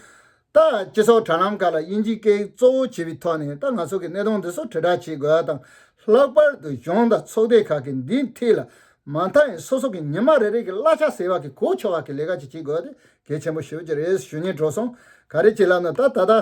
ལྟ། སྤྱི་ཚོགས་དྲ་ལམ་ཁག་ལ་དབྱིན་ཇིའི་སྐད་ཡིག་གཙོ་བོ་བྱས་པའི་ཐོག་ནས་ལྟ་ང་ཚོ་གི་གནས་སྟངས་འདི་ཚོ་དྲིལ་བསྒྲགས་བྱེད་དགོས་པ་དང་ལྷག་པར་དུ་གཞུང་དང་ཚོགས་སྡེ་ཁག་གིས་འདིའི་མཐིལ་ལ་མ་མཐའ་ཡང་སོ་སོ་གི་ཉི་མ་རེ་རེ་གི་གླ་ཆ་ཟེར་བ་གི་གོ་ཆོད་བར་གི་ལས་ཀ་ཅིག་བྱེད་དགོས་དེ་གལ་ཆེན་པོ་ཞུ་རྒྱུ་རེད་ཞུ་ཉེས་འགྲོ་སོང་ག་རེ་བྱེད་ལབ་ན་ད་ད་ལྟ་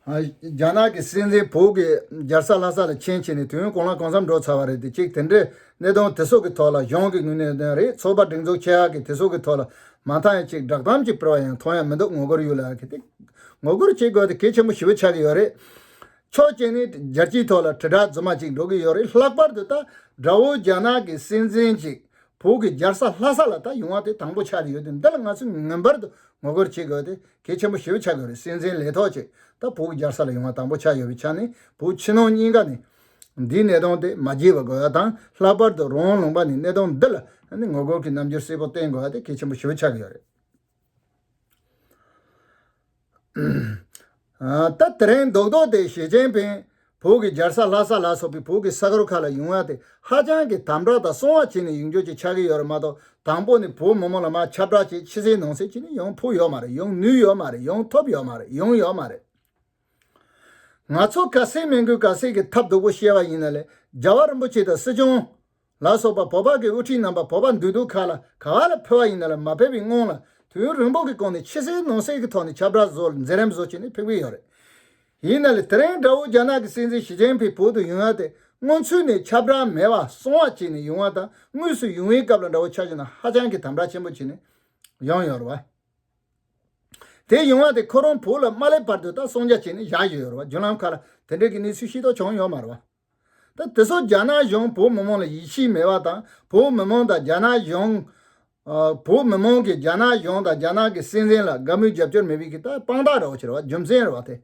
རྒྱ་ནག་གི་སྲིད་འཛིན་བོད་ཀྱི་རྒྱལ་ས་ལྷ་ས་ལ་མཆན་བྱས་ནས་དུས་ཡུན་གང་ལ་གང་འཚམ་འགྲོ་ཚར་བ་རེད་དེ་གཅིག་དེ་འདྲའི་གནད་དོན་དེ་སོགས་ཀྱི་ཐོག་ལ་གཞུང་གི་ངོས་ནས་རེད་ཚོགས་པ་སྒྲིག་འཛུགས་ཆེ་ཧ་གི་དེ་སོགས་ཀྱི་ཐོག་ལ་མ་མཐའ་ཡང་གཅིག་བསྒྲགས་གཏམ་གཅིག་སྤེལ་བ་ཡང་མཐོང་ཡ་མི་འདུག་ངོ་རྒོལ་ཡོད་ལ་གི་དེ་ངོ་རྒོལ་བྱེད་དགོས་དེ་གལ་ཆེན་པོ་ཞི་བོ་ཆགས་ཀྱི་ཡོད་རེད། ཕྱོགས་གཅིག་ནས་རྒྱལ་སྤྱིའི་ཐོག་ལ་དྲིལ་བསྒྲགས་རྫུན་མ་གཅིག་འགྲོ་གི་ཡོད་རེད་ལྷག་པར་དུ་ད་དགྲ་བོ་རྒྱ་ནག་གི་སྲིད་འཛིན་གཅིག་བོད་ཀྱི་རྒྱལ་ས་ལྷ་ས་ལ་ད་ཡོང་བ་དེ་དང་པོ་ཆགས་ཡོད་དུས་འདི་ལ་ང་ཚོས་ངེས་པར་དུ་ངོ་རྒོལ་བྱེད་དགོས་ཏེ་གལ་ཆེན་པོ་ཞེ་བོ་ཆགས་ཀྱི་རེད་སྲིད་འཛིན་ལས་ཐོག་ཅིག་ད་བོད་ཀྱི་རྒྱལ་ས་ལ་ཡོང་བ་དང་པོ་ཆགས་ཡོད་པའི་ཆ་ནས་བོད་ཕྱི་ནང་གཉིས་ཀ་ནས་འདིའི་གནད་དོན་དེ་མ་བརྗེད་པར་དགོས་པ་དང་ལྷག་པར་དུ་རོང་ལུང་པ་ནས་གནད་དོན་འདི་ལ་ངོ་རྒོལ་གྱི་རྣམ་འགྱུར་གསལ་པོ་བསྟན་དགོས་པ་དེ་གལ་ཆེན་པོ་ཞེ་བོ་ཆགས་ཀྱི་ཡོད་རེད། ད་དེ་རིང་རྡོག་རྡོག་དེ་ཞེ་ཅན་ཕན་བོད་ཀྱི་རྒྱལ་ས་ལྷ་ས་ལ་སོགས་པའི་བོད་ཀྱི་ས་གར་ཁག་ལ་ཡུང་བ་དེ་ཧ་ཅང་གི་དམ་དྲག་དང་སྲུང་བ་བྱེད་ནས་ཡིག་འཇོག་ཅིག་ཆགས་ཀྱི་ཡོད་རེད་མ་གཏོགས་དང་པོ་ནས་བོད་མི་མང་ལ་མ་ཁྱབ་བསྒྲགས་བྱེད་ཕྱི་གསལ་ནང་གསལ་བྱེད་ནས་ཡོང་ཕོག་ཡོད་མ་རེད་ཡོང་ནུས་ཡོད་མ་རེད་ཡོང་ཐོབ་ཡོད་མ་རེད་ཡོང་ཡོད་མ་རེད། ང་ཚོ་ག་སེ་མིན་གུས་ག་སེ་གི་ཐབས་སྡུག་པོ་བཤད་པ་ཡིན་ན་ལས་རྒྱལ་བ་རིན་པོ་ཆེ་དང་སྲིད་སྐྱོང། ལ་སོགས་པ་བོད་ཕག་གི་དབུ་ཁྲིད་རྣམ་པ་བོད་པ་འདུས་སྡོད་ཁག་ལ་ག་ལ་ཕུལ་བ་ཡིན་ལ་མ་ཕེབས་པའི་སྔོན་ལ་དུས་རིང་པོ་གི་གོང་ནས་ཕྱི་གསལ་ནང་གསལ་གི་ཐོག་ནས་ཁྱབ་བསྒྲགས་བཟོ་ལ་འཛིན་རིམ་བཟོ་བྱས་ནས་ཕེབས་ཀྱི་ཡོད་རེད། ཡིན་ན་ལས་དེ་རིང་དགྲ་བོ་རྒྱ་ནག་གི་སྲིད་འཛིན་ཞི་ཅིན་ཕིང་བོད་དུ་ཡུན་ཡང་དེ་སྔོན་ཚུད་ནས་ཁྱབ་བསྒྲགས་མེད་པར་སོང་བ་བྱས་ནས་ཡུང་བ་དང་དངོས་སུ་ཡུང་བའི་སྐབས་ལ་དགྲ་བོ་ཆ་བཞི་ནང་ཧ་ཅང་གི་དམ་དྲག་ཆེན་པོ་བྱས་ནས་ཡོང་ཡོད་རེད་བ། དེ་ཡུང་བ་དེ་ཁོ་རང་བོད་ལ་མ་སླེབས་བར་དུ་ད་སོང་རྒྱ་བྱས་ནས་བཞག་ཡོད་རེད་བ་རྒྱུན་ལམ་ཁག་ལ་དེ་འབྲེལ་གི་གནས་ཚུལ་ཤེས་རྟོགས་བྱུང་ཡོད་མ་རེད་བ། ཏེ། དེ་སོགས་རྒྱ་ནག་གཞུང་བོད་མི་མང་ལ་ཡིད་ཆེས་མེད་པ་དང་བོད་མི་མང་དང་རྒྱ་ནག་གཞུང། བོད་མི་མང་གིས་རྒྱ་ནག་གཞུང་དང་རྒྱ་ནག་གི་སྲིད་འཛིན་ལ་དགའ་མོས་རྒྱབ་སྐྱོར་མེད་པའི་ཀྱི་རྟགས་དཔང་རྟགས་རེ་བ་ཆེ་རེ་བ་རྒྱུ་མཚན་རེ་བ་སྟེ།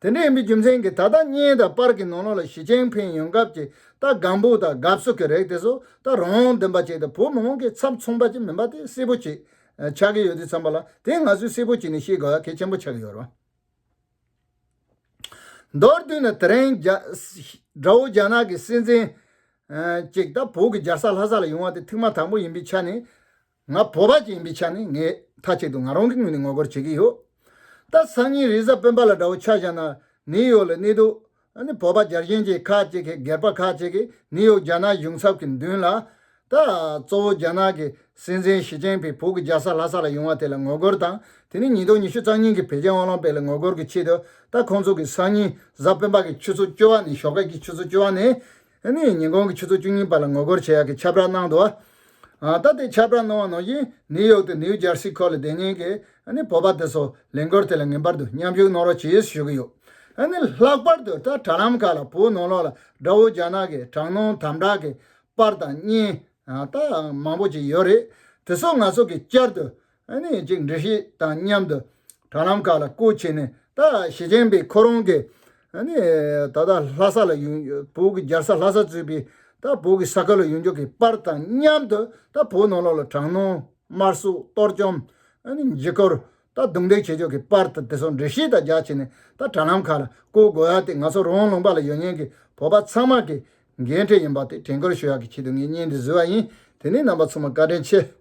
དེ་འདྲ་ཡིན་པའི་རྒྱུ་མཚན་གྱིས་ད་ལྟ་བརྙན་དང་པར་གྱི་ནང་ལོགས་ལ་ཞི་ཅིན་ཕིན་ཡོང་སྐབས་ཀྱི་རྟགས་སྒམ་པོ་དང་དགའ་བསུ་གྱི་རེག་དེ་སོགས་རྟགས་རང་དག་འདོན་པ་བྱས་ཏེ་བོད་མི་མང་གི་ཚབ་མཚུངས་པ་ཅིག་མིན་པ་དེ་གསལ་པོ་བྱེད་ཆགས་ཀྱི་ཡོད་དུས་བསམ་པ་ལ་དེ་ང་ཚོས་གསལ་པོ་བྱས་ནས་ཤེས་དགོས་ཡ་གལ་ཆེན་པོ་ཆགས་ཀྱི་ཡོད་རེད་བ། མདོར་བསྡུས་ན་དེ་རིང་དགྲ་བོ་རྒྱ་ནག་གི་སྲིད་འཛིན་ཅིག་ད་བོད་ཀྱི་རྒྱལ་ས་ལྷ་ས་ལ་ཡོང་བ་དེ་ཐེངས་མ་དང་པོ་ཡིན་པའི་ཆ་ནས་ང་བོད་པ་ཅིག་ཡིན་པའི་ཆ་ནས་ངས་མཐའ་གཅིག་ཏུ་ང་རང་གི་ངོས་ནས་ངོ་རྒོལ་བྱེད་ཀྱི་ཡོད། ད་སང་ཉིན་རིས་གཟའ་སྤེན་པ་ལ་དགྲ་བོ་ཆགས་བཞག་ན་ནིའི་ཡོག་ལ་གནས་སྡོད་ནི་བོད་པ་རྒྱ་གཞན་གྱི་ཁ་ཅིག་གིས་སྒེར་པ་ཁ་ཅིག་གིས་ནིའུ་ཡོག་རྒྱ་ནག་གཞུང་ཚབ་ཀྱི་མདུན་ལ། ད་གཙོ་བོ་རྒྱ་ནག་གི་སྲིད་འཛིན་ཞི་ཅིན་ཕིང་བོད་ཀྱི་རྒྱལ་ས་ལྷ་ས་ལ་ཡོང་བ་དེ་ལ་ངོ་རྒོལ་དང་དེ་ནས་ཉིས་སྟོང་ཉི་ཤུ་རྩ་གཉིས་ཀྱི་བོད་རྒྱ་དབང་ལུང་སྤེལ་ལ་ངོ་རྒོལ་གྱི་ཆེད་དུ་ད་ཁོང་ཚོ་གི་སང་ཉིན་གཟའ་སྤེན་པ་གི་ཆུ་ཚོད་བཅུ་བ་ནས་ཞོགས་ཀ་གི་ཆུ་ཚོད་བཅུ་བ་ནས་ཨ་ནི་ཉིན་གུང་གི་ཆུ་ཚོད་བཅུ་གཉིས་པ་ལ་ངོ་རྒོལ་བྱེད་ཡག་གི་ཁྱབ་བསྒྲགས་གནང་འདུག་ཨ། ད་ལྟའི་ཁྱབ་བསྒྲགས་གནང་བ་ནང་བཞིན་ནིའུ་ཡོག་ཏུ་ནིའུ་ཇར་སི་ཁོ་ལ་བདེ་སྙིང་གི་ཨ་ནི་བོད་པ་དེ་ཚོ་ལས་འགུལ་དེ་ལ་ངེས་པར་དུ་མཉམ་ཞུགས་གནང་རོགས་བྱེད་ཞུ་གི་ཡོད། ཨ་ནི་ལྷག་པར་དུ་ད་དྲ་ལམ་ཁག་ལ་བོད་ནང་ལོགས་ལ་དགྲ་བོ་རྒྱ་ནག་གི་དྲག་གནོན་དམ་དྲག་གི་པར་དང་བརྙན། ཨ། མང་པོ་ཅིག་ཡོད་རེད། དེ་ཚོ་ང་ཚོ་གིས་བསྐྱར་དུ་ནས་ཅིག་འདྲི་ཞིག་དང་མཉམ་དུ་དྲ་ལམ་ཁག་ལ་སྐུར་ཕྱིན་ནས་ད་ཞི་ཅིན་ཕིང་ཁོ་རང་གིས་ད་ལྟ་ལྷ་ས་ལ་ཡོང་བོད་ཀྱི་རྒྱལ་ས་ལྷ་ས་གཙོས་པའི་ད་བོད་ཀྱི་ས་ཁུལ་ལ་ཡོང་རྒྱུ་གི་པར་དང་མཉམ་དུ་ད་བོད་ནང་ལོགས་ལ་དྲག་གནོན་དམར་གསོད་གཏོར་བཅོམ། འཇིགས་སྐུལ་ད་རྡུང་རྡེག་བྱེད་རྒྱུ་གི་པར་དང་དེ་སོགས་འདྲི་ཞིག་དང་སྦྱར་ཕྱིན་ནས་ད་དྲ་ལམ་ཁག་ལ་སྐུར་དགོས་ཡ་དེ་ང་ཚོ་རང་ལུང་པ་ལ་ཡོད་ཉེན་གྱི་བོད་པ་ཚང་མ་གི་འགན་འཁྲི་ཡིན་པ་དེ་དྲན་སྐུལ་ཞུ་ཡ་གི་ཆེད་དུ་ངས་བརྙན་འདི་བཟོས་བ་ཡིན་དེ་ནས་རྣམ་པ་ཚང་མ་བཀའ་དྲིན་ཆེ།